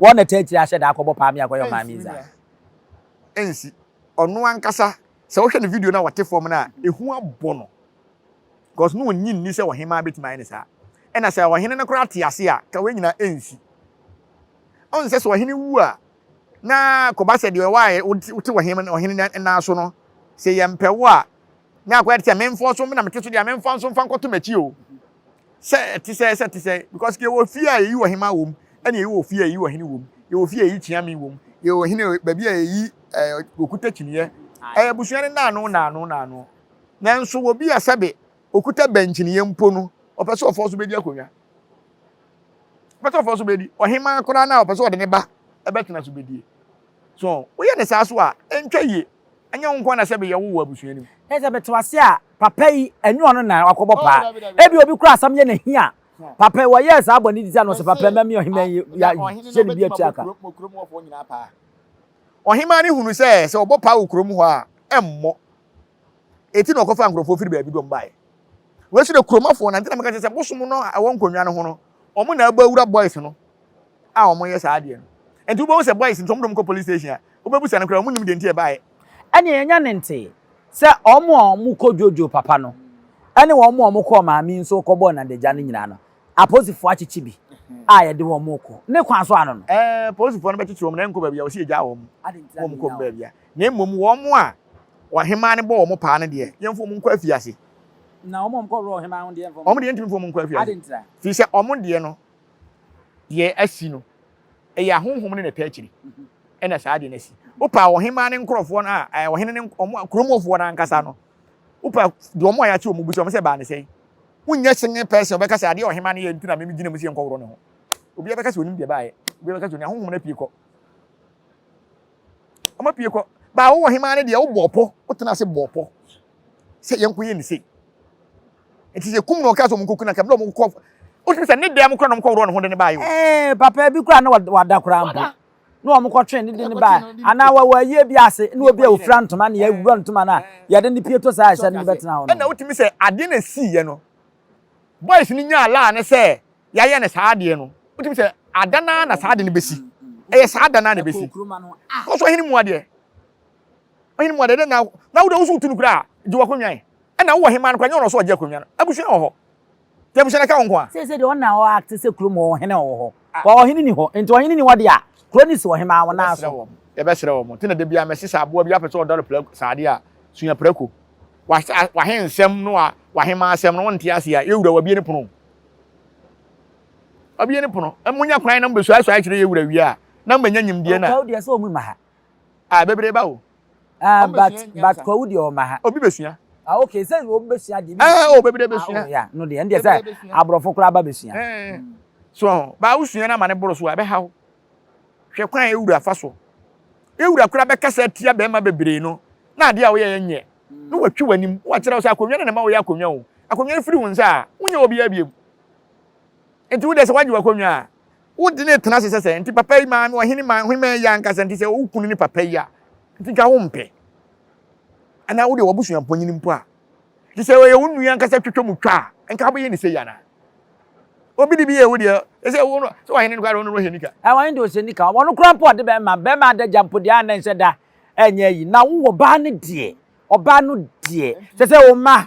Wɔn na ɛtaa tiri ahyɛ da akɔbɔ paa me akɔyɛ ɔman mizaa. Ɛnsi nua. Ɛnsi. Ɔno ankasa sɛ wohwɛ ne video no a ɔte fam no a, ehu abɔ no cause na onnye nni sɛ ɔhemaa betumi ayɛ no saa. Ɛna sɛ ɔhene no koraa te ase a, ka wei nyinaa ɛnsi. Ɔn sɛ sɛ ɔhene wu a, na kɔba sɛ deɛ ɔwɔ a wote ɔhene nan so no, sɛ yɛmpɛ wo a, na akɔyɛ te sɛ memfoɔ so, me na mete so deɛ a memfoɔ nso mfa nkɔto m'akyi o. Sɛ ɛte sɛ sɛ ɛte sɛ because yɛwɔ fie a yɛyi ɔhema wɔ mu ɛna yɛwɔ fie a yɛyi ɔhene wɔ mu yɛwɔ fie a yɛyi kyeame wɔ mu yɛwɔ ɔhene baabi a yɛyi ɛɛ okuta kyiniiɛ ɛyɛ abusua no naano naano naano nanso wɔ bi a sɛbe okuta bɛnkyiniiɛ mpo no ɔpɛ sɛ ɔfɔ so bɛdi akonnwa ɔpɛ sɛ ɔfɔ so bɛdi ɔhema koraa no a ɔpɛ sɛ ɔde ne ba ɛbɛtena so bɛdie So woyɛ no saa nso a, ɛntwa yie. Ɛnyɛ wo nko ara na sɛbe yɛwo wɔ abusua no mu. Ɛyɛ sɛ mete wo ase a, papa yi, ɛnyɛ ɔno na wakɔbɔ paa. Ebia obi koraa asɛm yɛ no ahi a, papa yi, wɔyɛɛ saa bɔne ti sɛ na ɔse, Papa yi, ma me ɔhemmaa yi ya, hyɛ no bi atua ka. Ɔhemmaa no hunu sɛ, sɛ ɔbɔ paa wɔ kurom hɔ a, ɛmmɔ. Eti na ɔkɔfaa nkurɔfoɔ firi baabi de wɔn baeɛ. Wei nso na kuromafoɔ, na nti na meka kyerɛ sɛ bosom no a ɛwɔ nkonnwa no ho no, wɔn na abɔ awura boys no. a ɔmo yɛ saa adeɛ no. Nti wobɛhu sɛ boys nti ɔmo de ɔmo kɔ police station a, wobɛbusa no koraa ɔmo nnim deɛ nti a ɛbaeɛ. Ɛneɛ yɛnya ne ntee sɛ ɔmo a ɔmo kɔ Jojo papa no ɛne ɔmo a ɔmo kɔɔ Maame nso kɔ bɔɔ Nandagya no nyinaa no aposifoɔ akyekye bi a yɛde ɔmo kɔ ne kwan so ano no. Ɛɛ aposifoɔ no bɛkyekye ɔmo na ɛnkɔ baabi a wɔse yɛgyaa ɔmo ma ɔmo kɔm baabi a. Na mmom ɔmo a ɔhemaa no bɔɔ ɔmo paa no deɛ yɛmfa ɔmo nkɔ afiase. Na ɔmo a ɔmo kɔ wura ɔhemaa ho deɛ yɛmfa ɔmo. Ɔmo deɛ yɛntumi mfa ɔmo nkɔ afiase. Ade ntra. Firi sɛ ɔmo deɛ no deɛ asi no, ɛyɛ ahonhom ne n'ataakyiri ɛna saa adeɛ no asi. Wopɛ a ɔhemaa ne nkorɔfoɔ no a, ɔhene ne wɔn kuromufoɔ no ankasa no, wopɛ a deɛ wɔn a yɛate wɔn bisa wɔn sɛ baa ne sɛn. Wonyɛ sene pɛsɛ ɔbɛka sɛ adeɛ ɔhemaa no yɛ nti na meme gyina mu sɛ yɛnkɔworɔ ne ho. Obiara bɛka sɛ onim deɛ baeɛ, obiara bɛka sɛ onim ahonhom no apue kɔ. Wɔn apue kɔ. Baa wo ɔhemaa no deɛ wobɔ ɔpɔ, wotena ase bɔ ɔpɔ sɛ yɛnkɔyɛ ne sei. Nti yɛ kum no ɔkaa sɛ ɔmo nkɔ kun anka ɛbrɛ ɔmo kɔ wotumi sɛ ne dɛm kora na ɔmo kɔ worɔ ne ho de ne baa yɛ. Ɛɛ papa bi kora na wada kora mpo na ɔmo kɔ twe ne de ne baa anaa wɔ ayie bi ase na obi a ofira ntoma na yɛwura ntoma na yɛde ne pie to saa ɛhyɛ no bɛtena hɔ no. Ɛna wotumi sɛ adeɛ na esii yɛ no boys no nyaa laa ne sɛ yɛayɛ ne saa adeɛ no wotumi sɛ ada naa na saa ade no besi ɛyɛ saa ada naa na ebesi kɔsɔ ɔhene mu adeɛ ɔhene mu adeɛ na na wode wosow tu no kura gye wakonnwa yi. Ɛna wowɔ hemaa no koraa nyɛ ɔno so ɔgye akonwa no abusua wɔ hɔ nti abusua no ɛka wo nko a. Seesei deɛ ɔna ɔ acte sɛ kurom hɔ ɔhene ɔwɔ hɔ but ɔhene ni hɔ nti ɔhene ni hɔ deɛ a kuro no si ɔhemaa wɔn nan so. Yɛbɛsrɛ wɔn nti na dabiaa mɛse sɛ aboa bi apɛ sɛ ɔdɔre prako saa adeɛ a sua prako w'ahensɛm ne w'ahemaa asɛm no wonte aseɛ a yɛwura wabie ne pono o wabie ne pono monya kwan na mobɛsuaesuae kyerɛ yɛwura wie a na mobɛnya nyimdeɛ no a. Ɔkɔw deɛ sɛ ɔmu mma ha Ah bebree ba o. Ah but but kwawu deɛ ɔma ha. Obi besua. Ah okay sɛ obi besua deɛ. Ɛɛ eh, o oh, bebree besua. Ah oh, ya no deɛ ɛndeɛ sɛ aborɔfo koraa ba besua. Ɛɛ eh, eh. so ɔho baa wosua no ama ne boro so a ɛbɛha wo. Hwɛ kwan a ewura fa so. Ewura koraa bɛkasa atia bɛrima bebree no na adeɛ a woyɛ yɛ nyɛ. Na watwi w'anim wakyerɛ wo sɛ akonnwa no na ɛma woyɛ akonnwa o. Akonnwa no firi wo nsa a wonyɛ obiara biom. Nti wo deɛ sɛ wagye w'akonnwa a Wo de ne tena ase sɛ sɛ nti papa yi maame ɔhene ma ɔhene ma yɛ ankasa nti sɛ wo kunu ne papa yi a nti twa wo mpɛ anaa wo de wabusua mponyin mpo a nti sɛ ɔyɛ wo nua ankasa twitwa mu twa a nka wobɛyɛ ne sɛ yi anaa obi de bi yɛ wo deɛ ɛsɛ wo no sɛ wahene no kora no ɔhɛ nika ɛwɔ ne de ɔsɛ nika wɔn kora mpo ɔde bɛma bɛma adagya mpo deɛ anɛ nsɛ da ɛnyɛ yi na wowɔ baa no deɛ ɔbaa no deɛ sɛ sɛ wo ma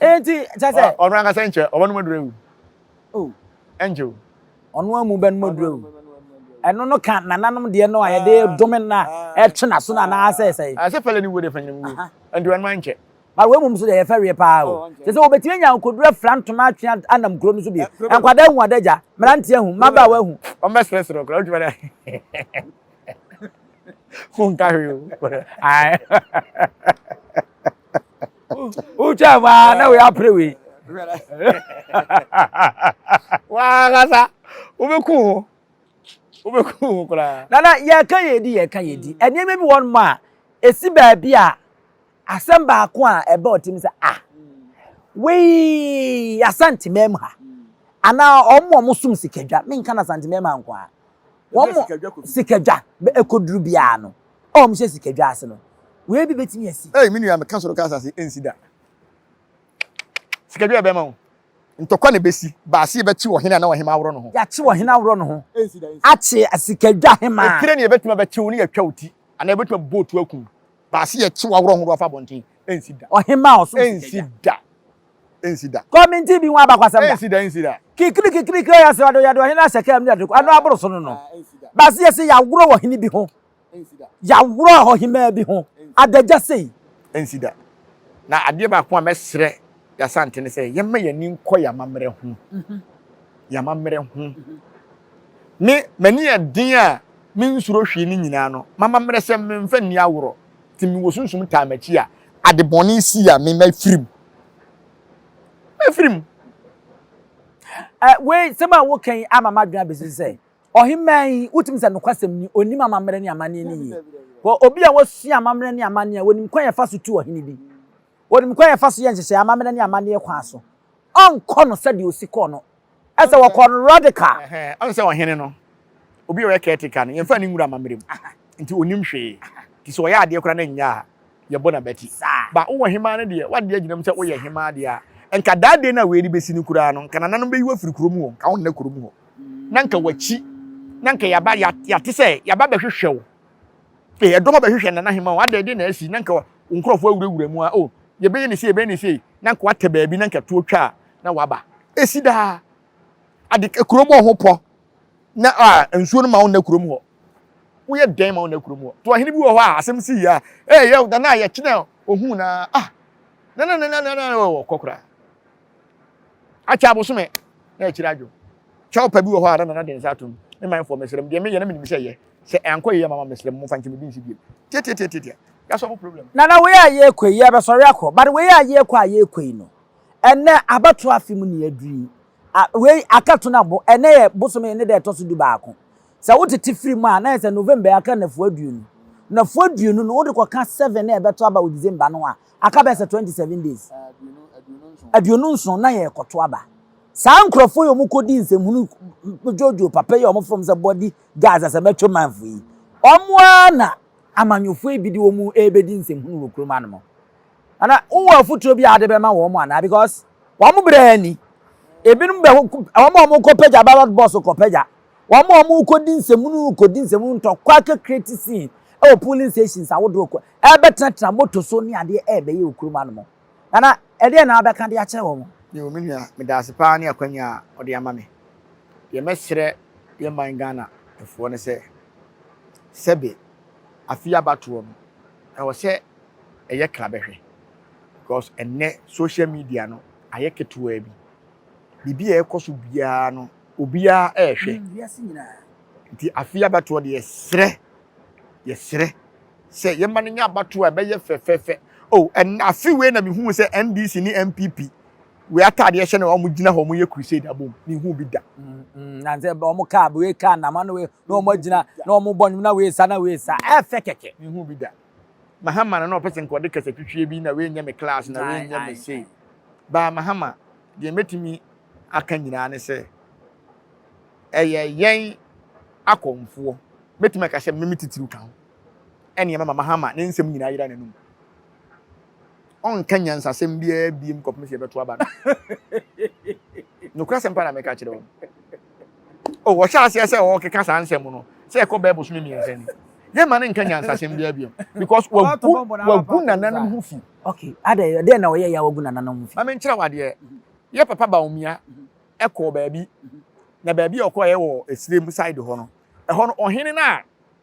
Enti kyɛ sɛ. Ɔno ankasa nkyɛ ɔba no mu aduru awu. Oh. Ɛnkyɛ o. Ɔno amu bɛ no mu aduru awu. Ɛno no ka nananom deɛ no a ah. yɛde dome no a ɛtwe n'aso no anaa sɛ sɛ. Asɛ ah, pɛlɛ ne wuo deɛ fanyina mu wuo. Ɛnti wɔn ma nkyɛ. Ba wei mum so deɛ yɛfɛ wie paa o. Oh, kyɛ sɛ wɔbɛtumi anya nkoduro afira ntoma atwe anam kuro no so bi. Eh, Nkwadaa ahu adagya, mmeranteɛ ahu, mmabaawa ahu. Wɔn bɛ serɛserɛ kura wotumi na. Fun ka hwee o. wotwa mu a na woyɛ apere wei wankasa wobɛku ho wobɛku ho koraa nana yɛka yɛdi yɛka yɛdi mm. nneɛma bi wɔn ma a ɛsi baabi a asɛm baako a ɛbɛ ɔtim sɛ a ah, wei asantemam ha mm. anaa ɔmo a ɔmo som sikadwa menka no asantemam ha nko a wɔn sikadwa ɛkɔduru biara no a wɔhyɛ sikadwa ase no, wei bi betumi asi. Ei, me nua, meka soro ka asase, ensi da. Sikadwa a ɛbɛma wo ntɔkwa na ebesi, baase yɛbɛkyew ɔhene anaa ɔhemmaa aworɔ no ho. Yɛakyew ɔhene aworɔ no ho, akye sikadwa hemmaa. Etire ne yɛbɛtumi abɛkyew ne yɛatwa wo ti, anaa yɛbɛtumi abobɔ wo to akum, baase yɛkyew aworɔ horow afa abɔnten, ensi da. Ɔhemmaa a ɔsom sikadwa. Ensi da. ensi da. Kɔminti bi ho abakwasɛm da. Ensi da, ensi da. Kikiri kikiri kiri ɔyɛ srado yɛde ɔhene ahyɛ kaa mu na yɛde kɔ ano aboro so no no. Baasi yɛsi yaworo wɔ hene bi ho. Ensi da. Yaworo ɔhemaa bi ho. Adagya sei. Ensi da. Na adeɛ baako a mɛsrɛ y'Asante ne sɛ yɛmma y'ani nkɔ y'amammerɛ ho. Y'amammerɛ ho. Me m'ani yɛ den a mensuro hwee ne nyinaa no m'amammerɛ sɛm menfa nni aworo. Ti me wɔ sunsum taa m'akyi a Ade bɔne sii a me mafiri mu. Mafiri mu. Ɛ, wei, nsɛm a woka yi ama m'adwene abesi sɛ, ɔhemmaa yi, wotumi sɛ nokwasɛm ni, onim amammerɛ ne amanneɛ no yie. Wɔ obi a wasua amammerɛ ne amanneɛ a, onim kwan a yɛfa so tu ɔhene bi. Onim kwan a yɛfa so yɛ nhyehyɛe amammerɛ ne amanneɛ kwan so. Ɔnkɔ no sɛdeɛ osi kɔɔ no Ɛsɛ wɔkɔ no radical. Ɔn sɛ ɔhene no, obi a ɔyɛ caretaker no, yɛmfa ne nwura amammerɛ mu. Nti ɔnnim hwee. Nti sɛ ɔyɛ adeɛ koraa na ɛnyɛ a, yɛbɔ no abati. But wowɔ hemaa no deɛ, w'adeɛ agyina mu sɛ woyɛ hemaa deɛ a, nka that day no a wei rebɛsi no koraa no, nka nananom bɛyi wo afiri kurom hɔ, nka wonna kurom hɔ. Na nka w'akyi, na nka yɛaba, yɛate sɛ yɛaba bɛhwehwɛ wo. Hwɛ, ɛdɔm abɛhwehwɛ Nana Hemaa o, adɛn de na asi, na nka wo nkorɔfoɔ awurawura mu a, oh, yɛbɛyɛ no sei, yɛbɛyɛ no sei, na nka woatɛ baabi, na nka tuo twa a, Na waba. Esi daa. Ade kurom wɔ ho pɔ. Na a nsuo no ma wo nna kurom hɔ. Woyɛ dɛn ma wo nna kurom hɔ? To ɔhene bi wɔ hɔ a asɛm sii a ee yɛ na na yɛkye na ohun na ah na na na na na wɔ kɔ koraa. Akyɛ abosome na akyire adwo. Kyɛw pa bi wɔ hɔ a na nana de nsa atom. Me manfoɔ mesrɛ mo deɛ meyɛ no menim sɛ ɛyɛ. Sɛ ɛankɔ yie ama ma mesrɛ mo momfa nkyɛ me bi nsi biom. Tiatiatiatiatia. Yɛasɔbo problem. Nana wei a yɛɛkɔ yi yɛɛbɛsɔre akɔ but wei a yɛɛkɔ a yɛɛkɔ yi no Ɛnnɛ abatoɔ afe mu na yɛaduru yi. A, wei aka to no abo. Ɛnnɛ yɛ bosome ne da ɛtɔ so dubaako. Sɛ wotete firi mu a, na ayɛ sɛ November yi aka nnafua aduonu. Nnafua aduonu no, wode kɔka seven no a ɛbɛto aba wɔ December no ho a, aka bɛyɛ sɛ twenty seven days. Aduonu nson na yɛrekɔto aba. Saa nkurɔfoɔ yi a wɔkɔdi nsɛmhunu dwoodwoo papa yi a wɔfrɛ wɔn sɛ body guards asɛm atwa manfo yi, wɔn ara na amanyɔfoɔ yi bi de wɔn rebɛdi nsɛmhunu wɔ kurom anom. Ana wowɔ afotuo bi a wode bɛma wɔn anaa because wɔn berɛ ni. Ebinom bɛ wɔn a wɔn kɔpagya ballot box kɔpagya. Wɔn a wɔn kɔdi nsɛmunu kɔdi nsɛmunu ntɔkwa kɛ create scene ɛwɔ polling stations ahodoɔ kɔ ɛbɛtenatena moto so ne adeɛ ɛbɛyɛ wɔ kurom anom. Nana ɛdeɛn na wobɛka de akyerɛ wɔn? Yoo me nua medaase paa ne akwanya a wode ama me. Deɛ mɛsrɛ yɛ man Ghana foɔ ne sɛ sɛbe afei abatoɔ no ɛwɔ sɛ ɛyɛ krabɛhwɛ because ɛnnɛ social media no ayɛ ketewaa bi biribi a ɛkɔ so biara no obiara ɛrehwɛ nti afei abatoɔ deɛ yɛsrɛ yɛsrɛ sɛ yɛma no nyɛ abatoɔ a ɛbɛyɛ fɛfɛɛfɛ o ɛnna afe wei na mehu sɛ ndc ne npp wei ataadeɛ hyɛ na wɔn gyina hɔ wɔn yɛ crusade abom mehu bi da. Mm, mm, na sɛ wɔn kaa wei kaa nama no wei na wɔn agyina na wɔn bɔ nnwom na wei sa na wei sa ɛfɛ kɛkɛ mehu bi da. Mahama no na ɔpɛ sɛ nka ɔde kasatwitwie bi na w'ɛnyɛ me class na w'ɛnyɛ me sei. Baa Mahama, deɛ mɛtumi aka nyinaa ne sɛ ɛyɛ yɛn akɔmfoɔ. Mɛtumi aka sɛ me me titiriw ka ho ɛne ɛma ma Mahama ne nsɛm nyinaa yera n'anum. ɔnka nyansasɛm biara biem kɔpem sɛ yɛbɛto aba no. Nokora sɛm pa na meka kyerɛ wɔn. O, wɔhyɛ aseɛ sɛ wɔkeka saa nsɛm no, sɛ ɛkɔ bɛɛ bosome mmiɛnsa ni. Yɛmma no nka nyansasɛm biara biem, because wagu, wagu nananom ho fi. Okay, adɛn, ɛdeɛn na ɔyɛ yɛ a wagu nananom ho fi? Ma menkyerɛ wo adeɛ. Yɛ papa Bawumia kɔɔ baabi, na baabi a ɔkɔɔɛ wɔ Esirem side hɔ no, ɛhɔ no, ɔhene no a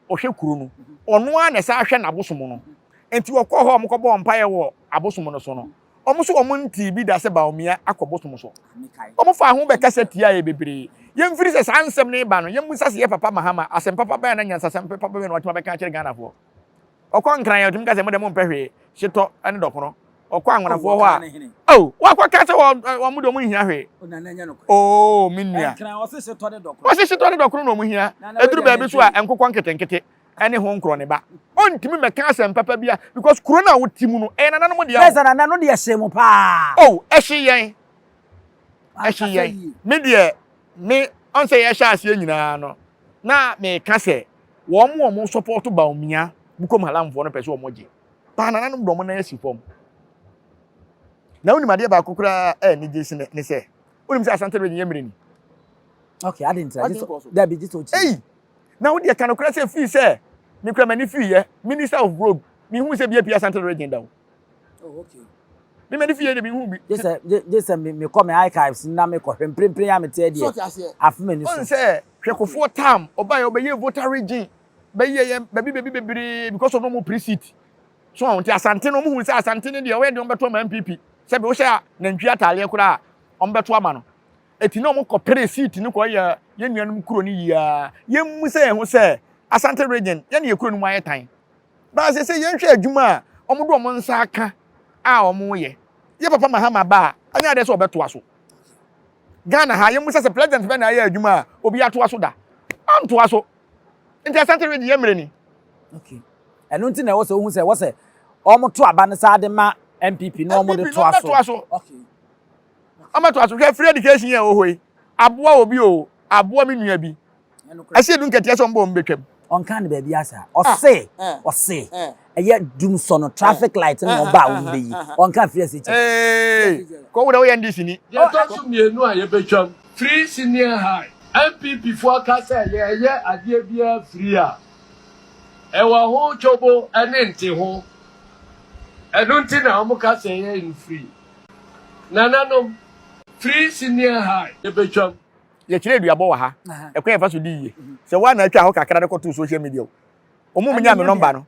ɔhwɛ kuro no, ɔno ara na ɛsan hwɛ n'abosom no. Enti wɔkɔɔ hɔ a wɔkɔbɔɔ mpaeɛ wɔ abosom no so no, wɔn nso wɔntee bi da sɛ Baomia akɔ bosom so. Wɔfaa ho bɛkasa tiaeɛ bebree. Yɛmfiri sɛ saa nsɛm no reba no, yɛmmisa sɛ ɛyɛ papa Mahama, asɛm papa bɛn na nyansasɛm papa bɛn na watumi abɛka akyerɛ Ghanafoɔ? Ɔkɔ Nkran a, ɔtumi ka sɛ, mo deɛ mompɛ hwee, hyetɔ ne dɔkono. ɔkɔ anwonafoɔ hɔ a oh wakɔ ka sɛ wɔn mo de wɔn nhia hwee oh me nua wɔsi setɔ ne dɔkono na wɔn hia eduru baabi so a nkokɔ nketenkete ɛne ho nkorɔ ne ba ɔntumi mɛka asɛm papa bi a because kuro na wɔte mu no ɛyɛ nana no mo deɛ o ɛsɛ nana no deɛ ɛhyɛ mu paa oh ɛhyɛ yɛn ɛhyɛ yɛn me deɛ me ɔnsɛ yɛ ɛhyɛ aseɛ nyinaa no na mɛka sɛ wɔn wɔn sɔpɔtɔ baomia bukom halamfoɔ no pɛ sɛ wɔn gye. paa nananom dɔm no asi fam. Na wonim adeɛ baako koraa a anigye si ne sɛ wonim sɛ Asante Region yɛ mmerɛ ni. Okay, adi ntra. Adi nkɔ so. Dabi, gye sɛ ɔkyi. Ei, na wodeɛ ka nokorɛ sɛ fii sɛ me kura m'ani fiiɛ Minister of Road, menhuu sɛ bi apue Asante Region da o. Oh, okay. Me m'ani fiiɛ de menhuu bi. Gye sɛ mekɔ me archives na mekɔhwɛ mprempren a mete adeɛ afe m'ani so. Ɔn sɛ hwɛkofoɔ tam ɔbaeɛ ɔbɛyɛɛ voter region bɛyi yɛ yɛn baabi baabi bebree because of ɔmo pre seat so wɔn ti asante no ɔmo hu sɛ asante no deɛ ɔyɛ deɛ ɔmo bɛto ama npp sɛbi wohyɛ a nantwi ataadeɛ koraa a ɔmo bɛto ama no eti na ɔmo kɔ pre seat no kɔ yɛ yɛn nuanom kuro no yia yɛn mu sɛ yɛn ho sɛ asante region yɛn yɛ kuro no mu ayɛ tan baasa sɛ yɛn hwɛ adwuma a ɔmo do ɔmo nsa aka a ɔmo yɛ yɛ papa mahama ba a anya adeɛ sɛ ɔbɛtoa so ghana ha yɛn mu sɛ sɛ president bɛ na ayɛ adwuma a obi atoa so da antoa so Nti Asante Ridge yɛ mmerɛ ni. Okay. Ɛno nti na ɛwɔ sɛ wohu sɛ ɛwɔ sɛ wɔn to aba no saa de ma NPP na wɔn de to aso. NPP na wɔn to aso. Okay. Wɔn to aso hwɛ free education yɛ wɔ hɔ yi. Aboa obi o, aboa mi nua bi. Ɛsɛ edu nketeɛ sɛ wɔn bɔ wɔn betwam. Ɔnka ne baabi asa. Ɔse, ɔse. ɛyɛ dum sɔ no traffic eh. light na ɔba a wɔn bɛyi eh, eh, ɔnka firi ase kyɛ. kɔwu na woyɛ ndc ni. deɛ ɛtɔ so mmienu a yɛbɛtwam firi senior high npp foɔ ka sɛ yɛyɛ adeɛ biara firi a ɛwɔ ho twobo ne nte ho ɛno nti na wɔn ka sɛ yɛyɛ no firi nananom firi senior high yɛbɛtwam yɛkyerɛ aduabɔ wɔ ha ɛkwan yɛfa so di yie sɛ woa na atwa hɔ kakra de kɔto social media o ɔmo mu nya me nɔmba no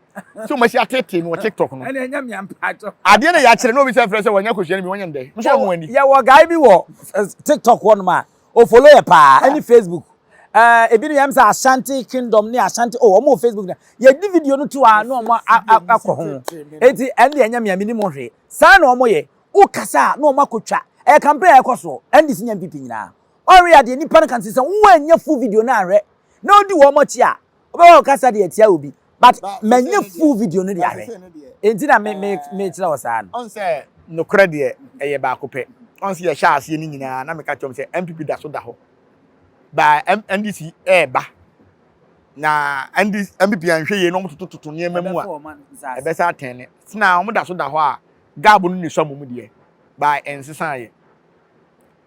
sɛ ɔmo asi atetee me wɔ tiktok no ɛna ɛnyɛ me ampaatɔ adeɛ na yɛakyerɛ na obi sɛ frɛ sɛ wɔnyɛ kosua no bi wɔnyɛ ndɛ nso ɔmo ani yɛwɔ guy bi wɔ eh, tiktok hɔ nom a ofolo yɛ paa ɛne facebook eh, ebi no yɛm sɛ ashanti kingdom ne ashanti o oh, ɔmo wɔ facebook na yɛdi video no to a na ɔmo akɔ ho eti ɛne deɛ ɛnyɛ mea mene mo hwee saa na ɔmo yɛ wokasa a na ɔmo akɔtwa ɛyɛ campaign a ɛkɔ soɔ ɛne de si nya mpp nyinaa ɔre adeɛ nipa no kan sɛ sɛ wɔn anyɛ full video no ahwɛ na odi wɔn akyi a wobɛwɔ ɔkasa de atia obi but manya full video no de ahwɛ enti na me me me kyerɛ wɔ saa no ɔn sɛ nokorɛ deɛ ɛyɛ baako pɛ ɔn sɛ yɛhyɛ aseɛ no nyinaa na meka kyerɛm sɛ NPP da so da hɔ ba NDC ɛɛba na NDC NPP anhwɛ yie na wɔn toto toto nneɛma mu a ɛbɛsa atɛn ne sena wɔn da so da hɔ a gaabo no na esua mu deɛ ba ɛnsesa yɛ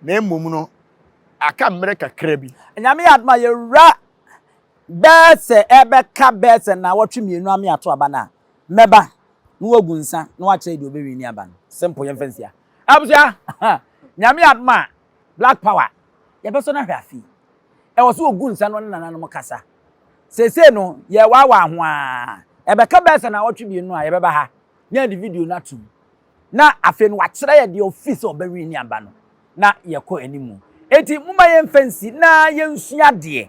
na mmom no aka mmerɛ kakra bi. Nyame yɛ adoma yɛwura Bɛsɛ ɛbɛka bɛsɛ nnawɔtwe mmienu ame ato aba no a, mɛba na wagu nsa na wakyerɛ deɛ ɔbɛwini aba no. Simple, yɛmfa nsia. Abusua, Nyame adom a, Black Power, yɛbɛsɔ no ahwɛ afe yi. Ɛwɔ sɛ ɔgu nsa na ɔne nananom kasa. Seesei no, yɛrewaawaa ho ara. Ɛbɛka bɛsɛ nnawɔtwe mmienu a, yɛbɛba ha na yɛde video no atom. na afei no wakyerɛ yɛ deɛ ɔfii sɛ ɔbɛ wini aba no na yɛkɔ animu enti moma yɛmfa nsi na yɛnsua adeɛ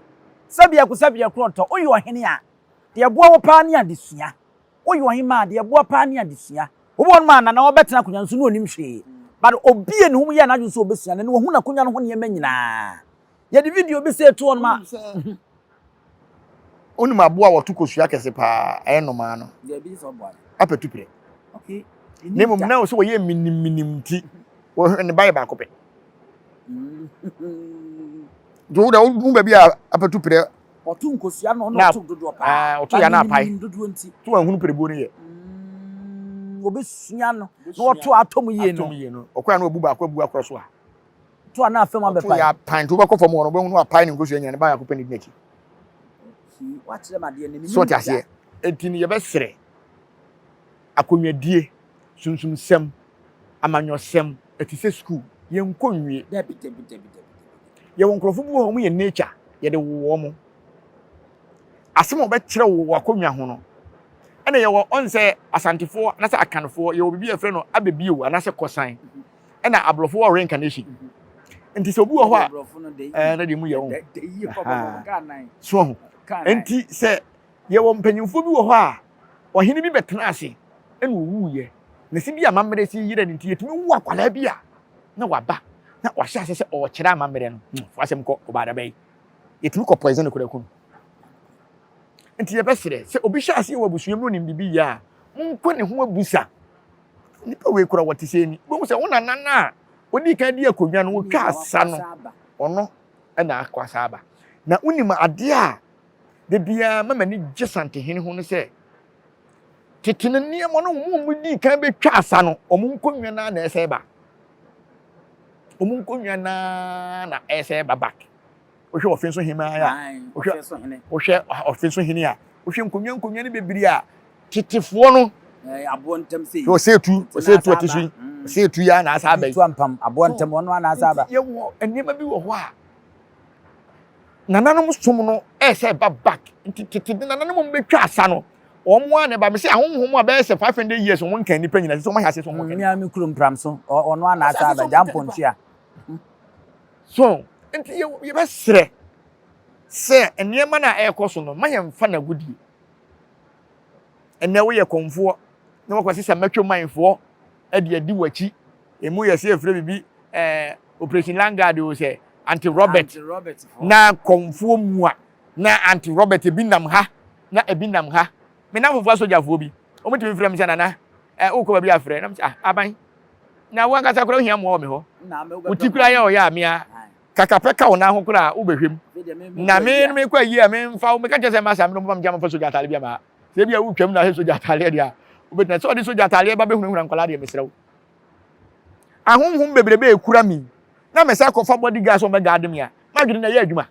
sɛ biako sɛ biako ɔtɔ woyɛ ɔhene a deɛ ɛboa wo paa ne adesua woyɛ ɔhemaa a deɛ ɛboa paa ne adesua obi wɔ nom a nana ɔbɛtena akonwa no so na ɔnim hwee but obie ne ho yɛɛ n'adwene sɛ ɔbɛsua no na wahu n'akonwa no ho nneɛma nyinaa Yɛde video bi sɛ etu ɔnom a. Onim aboa a wɔto kosua kɛse paa ɛyɛ nnomaa no. Apɛtupire. Na mmom na sɛ wɔyɛ minimminim nti wɔhwɛ ne ba yɛ baako pɛ. Nti wo dɛ wo baabi a apɛtupire ɔto nkosua no na ɔto dodoɔ paa. Ɔto yɛ na apae. Dodoɔ nti. So wɔahunu perebuo no yɛ. Wɔbɛsua no na wɔto atom yie no. Atom yie no. Ɔkora no ɔbu baako abu akora so a. to a na afam abɛpae. ɔto yɛ apan nti wobɛkɔ fam hɔ no wobɛhu no apae ne nkosua nyina ne baako pɛ ne di n'akyi so ɔte aseɛ enti no yɛbɛserɛ akonnwadie sunsumsɛm amanyɔsɛm ɛte sɛ sukuu yɛnkɔ nwie yɛwɔ nkurɔfo bi wɔ hɔ ɔmo yɛ nature yɛde wowɔ mo asɛm a wɔbɛkyerɛ wo wɔ akonnwa ho no ɛna yɛwɔ ɔn sɛ asantefoɔ anasɛ akanfoɔ yɛwɔ biribi a yɛfrɛ no abɛbio anasɛ kɔsan ɛna abrɔfo wɔ reincarnation nti sɛ obi wɔ hɔ a ɛɛ na deɛ mu yɛ ho so ho nti sɛ yɛwɔ mpanyinfoɔ bi wɔ hɔ a ɔhene bi bɛtena ase ɛna owu yɛ na si bi amammerɛ si yere no nti yɛtumi wu akwadaa bi a na waba na wahyɛ ase sɛ ɔkyerɛ amammerɛ no hmm, fo asɛm kɔ ɔbaada bɛyi yɛtumi kɔ poison kura kun nti yɛbɛsrɛ sɛ obi hyɛ ase wɔ abusua mu onim bibi yɛ a monkɔ ne ho abusa Nnipa wei kura wɔte sɛ ni. Wobɛhu sɛ wo nana no a ɔdii kan di akonnwa no, wɔtwa asa no, ɔno na akɔ asa aba. Na wonim adeɛ a da biara ma m'ani gye Santehene ho no sɛ, tete no nneɛma no wɔn a wɔdii kan bɛtwa asa no, wɔn nkonnwa no ara na ɛsɛ ba. Wɔn nkonnwa no ara na ɛsɛ ba back. wohwɛ ɔfe so hene a wohwɛ wohwɛ ɔfe so hene a wohwɛ nkonnwa nkonnwa no bebree a tetefoɔ no aboɔ ntam sɛ yi ɔsɛ etu ɔsɛ etu ɔte so yi ɔsɛ etu yi anaasa abɛn etu ampam aboɔ ntam ɔno anaasa aba yɛwɔ nneɛma bi wɔ hɔ a nananom som no ɛsɛ ɛba back nti tete de nananom wɔn bɛtwa asa no wɔn a na ɛba mi sɛ ahohom a bɛyɛ sɛ five hundred years wɔn nkan nipa nyinaa sɛ wɔn ahyɛ ase sɛ wɔn nkan. mmea mi kuro mpram so ɔno anaasa abɛgya mpɔntua. So nti yɛ yɛbɛsrɛ sɛ nneɛma no a ɛrekɔ so no ma yɛmfa no agodie. Ɛnɛ woyɛ kɔmfoɔ na wakɔsi sɛ mɛtwe manfoɔ de adi w'akyi. Emu yɛ sɛ efirɛ biribi ɛɛ operation langard o sɛ anti Robert na kɔmfoɔ mua na anti Robert ebi nam ha na ebi nam ha. Me nanfofoɔ asogyafoɔ bi wɔn tumi frɛ me sɛ nana ɛɛ wokɔ baabi afrɛ na me sɛ ah aban. Na wo ankasa koraa wohia mmoa wɔ me hɔ. Wo ti koraa yɛ ɔyɛ a me ara. Kaka pɛ ka wo nan ho koraa a wobɛhwam. Na me no mekɔ ayie a memfa wo. Meka kyerɛ sɛ mma saa me no moma megya memfa sogya ataadeɛ bi ama. Sɛ ebi a wotwam na sɛ sogya ataadeɛ deɛ a wobɛtumi. Sɛ ɔde sogya ataadeɛ ba bɛhunahuna nkwadaa deɛ mesrɛ wo. Ahonhom bebrebe rekura me na mesan kɔfa body guard sɛ wɔbɛgaade me a m'adwene no ɛyɛ adwuma.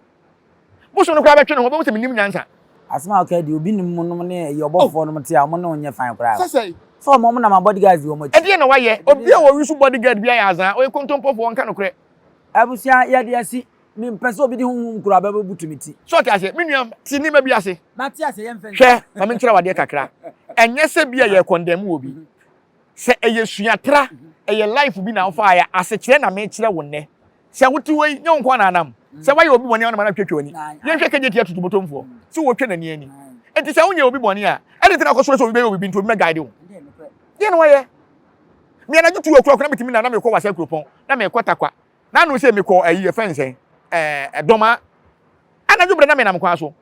Bosom no koraa bɛtwe ne ho, ɔbɛhu sɛ mennim nyansa. Asɛm a ɔkae deɛ, obi nim mo nom ne ɛyɛ ɔbɔfofoɔ nom te a ɔmo ne wo nyɛ fine koraa o. Sɛ ɔmo ɔmo na ma bodyguards di ɔmo akyi. Ɛdeɛn na wayɛ? Obi a wɔwe so bodyguard bi ayɛ azaa, ɔyɛ kontompofoɔ, ɔnka nokorɛ. Abusua yɛde asi. Me mpɛ sɛ obi de honhom kuro aba bɛ butu me ti. So ɔte aseɛ? Me nua, te nneɛma bi ase. Mate aseɛ, yɛmfa nsi. Hwɛ, ma me nkyerɛ wo adeɛ kakra. Ɛnyɛ sɛ bi a yɛ condemn wɔ bi. Sɛ ɛyɛ suatra, ɛyɛ life bi na wo faeɛ a, asekyerɛ na me kyerɛ wo nnɛ. Sɛ wote wei, nyɛ wo nko ara na anam. Sɛ woayɛ obi bɔne a, wo na ma no atwitwa w'ani. Yɛnhwɛ Kejeti atutubotomfoɔ. So wɔtwa n'ani ani? Enti sɛ wonyɛɛ obi bɔne a, adɛn nti na wokɔsrɛ sɛ obi bɛyɛ wo biribi nti obi mmɛguide wo? Deɛn na woayɛ? Me anadwo tu akuaku na metumi na na merekɔ Wasa Kuropɔn, na merekɔ Tarkwa. Na ano sɛ mekɔ ayi yɛfrɛ no sɛn? Ɛɛ, Dɔmaa. Anadwo berɛ na menam kwan so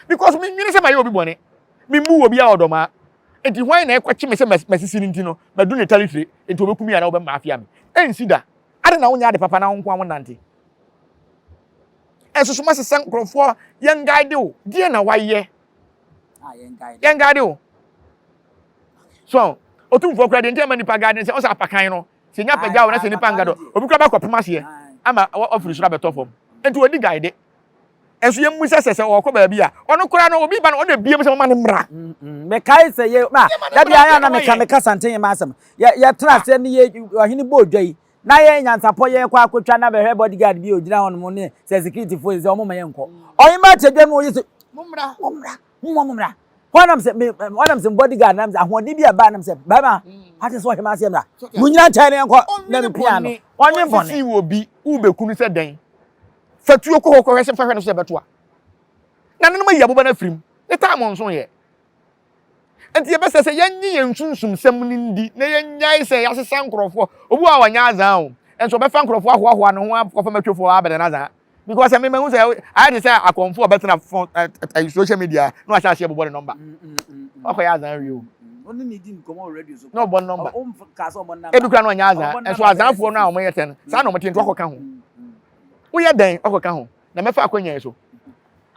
because menwene sɛ mayɛ obi bɔne. Memmuu obiara wɔ Dɔmaa. Enti hwan na ɛkɔkye me sɛ m'asisi no nti no, madu ne tare tire, enti wɔbɛku me anaa wɔbɛmafia me? Ɛnsi da! Adɛn na wonyɛ ade papa na wo nko ara wonante? Ɛnso so masɛ sɛ nkurɔfoɔ yɛn guide wo. Deɛ na wayɛ? Yɛn guide wo. So, otumfoɔ kura deɛ nti ɛma nipa guide ne sɛ ɔsɛ apakan no. Sɛ nya pagya wo na sɛ nipa ngadɔ, obi kura bɛkɔ pem aseɛ ama wafiri soro abɛtɔ fam. Nti odi guide. Nso yɛn mu sɛ sɛ sɛ ɔkɔ baabi a ɔno koraa no obi ba no ɔna ebie mu sɛ ɔma ne mmra. Mm, mm. Mekae sɛ yɛ ma da bi ara na meka meka santen yɛ ma asɛm. Yɛ yɛ tra ah. sɛ ne yɛ ɔhene bɔ odwa yi. na yɛ nyansapɔ yɛ kɔ akɔtwa na bɛhwɛ bodyguard bi ogyina hɔ nom ne sɛ security fo sɛ ɔmo ma yɛ nkɔ ɔyɛmba akyɛdwa no ɔyɛ sɛ mommra mommra mommɔ mommra hɔ nam sɛ hɔ nam sɛ bodyguard nam sɛ ahoɔden bi aba nam sɛ bɛrima ate sɛ ɔhɛmɛ aseɛ mmra mo nyina nkyɛn ne nkɔ na ne pia no ɔnwe bɔne ɔnwe bɔne Fa tuo kɔ hɔ kɔhwɛ sɛ fa hwɛ no sɛ ɛbɛto a. Na nanom ayi aboba no afiri mu. Ne taam nso yɛ. Nti ɛbɛsɛ sɛ yɛnye yɛn sunsumsɛm no ndi na yɛnyae sɛ yɛasesa nkurɔfoɔ. Obi wɔ hɔ a ɔnyɛ azaa o, nso ɔbɛfa nkurɔfoɔ ahoahoa ne ho akɔfa matwofoɔ a abɛdɛ no azaa. Because me mahu sɛ ayɛ te sɛ akɔmfoɔ a ɔbɛtena fo, ɛ, ɛ, ɛ, social media na wahyɛ aseɛ bobɔ ne nɔmba. Wakɔyɛ azaa awie o. Na ɔbɔ ne nɔmba. Ebi koraa na ɔnyɛ azaa, nso azaafoɔ no a wɔyɛ tɛ no, saa na wɔte nti wakɔka ho. Woyɛ dɛn ɔkɔka ho na mɛfa akwannya yi so?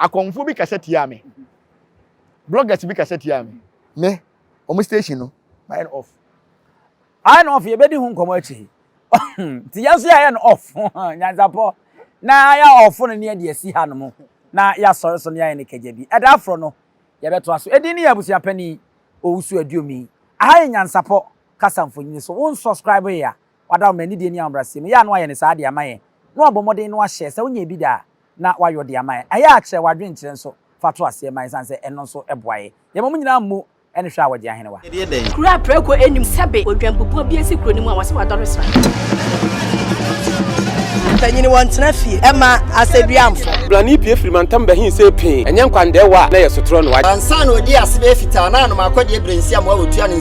Akɔmfo bi kasa tiaa me. Bloggers bi kasa tiaa me. Me, wɔn station no, mayɛ no off. Ayɛ no off, yɛbɛdi ho nkɔmmɔ akyiri yi. Nti yɛn nso yɛayɛ no off. Nyansapɔ. Na yɛayɛ off no ne yɛde asi hanom, na yɛasɔre so na yɛayɛ no kagya bi. Ɛda foro no, yɛbɛtoa so. Edin ne yɛn abusua panin, Owusu Aduomi. Aha yɛ Nyansapɔ kasa mfonini so. Wonsɔskraiboe a, Wada wo ma anidie ne ahobrɛaseɛ mu. Ɛyɛ a na wayɛ no saa de ama yɛn. Na wabɔ mmɔden na wahyɛ sɛ wonyɛ bi da a, na wayɔ de ama yɛn. Ɛyɛ a kyerɛ w'adwenkyerɛ nso fa to aseɛ ma yɛn ɛsiane sɛ ɛno nso boa yɛn. Yɛma mo nyinaa mmu ne hwɛ a wɔgye ahenewa. Kuro a prɛko nnim sɛbe odwanbubuo bi asi kuro no mu a wɔse wadɔre sra. Mpanyini wɔntena fie ɛma asɛduamfo. Brane pue firi mantam ba hin see pee, ɛnyɛ nkwa ndɛɛwa a na yɛ sotorɔ no wagye. Ansa na ɔdii asebɛɛ fitaa na anom akɔdeɛ brensiam a ɔtua ne.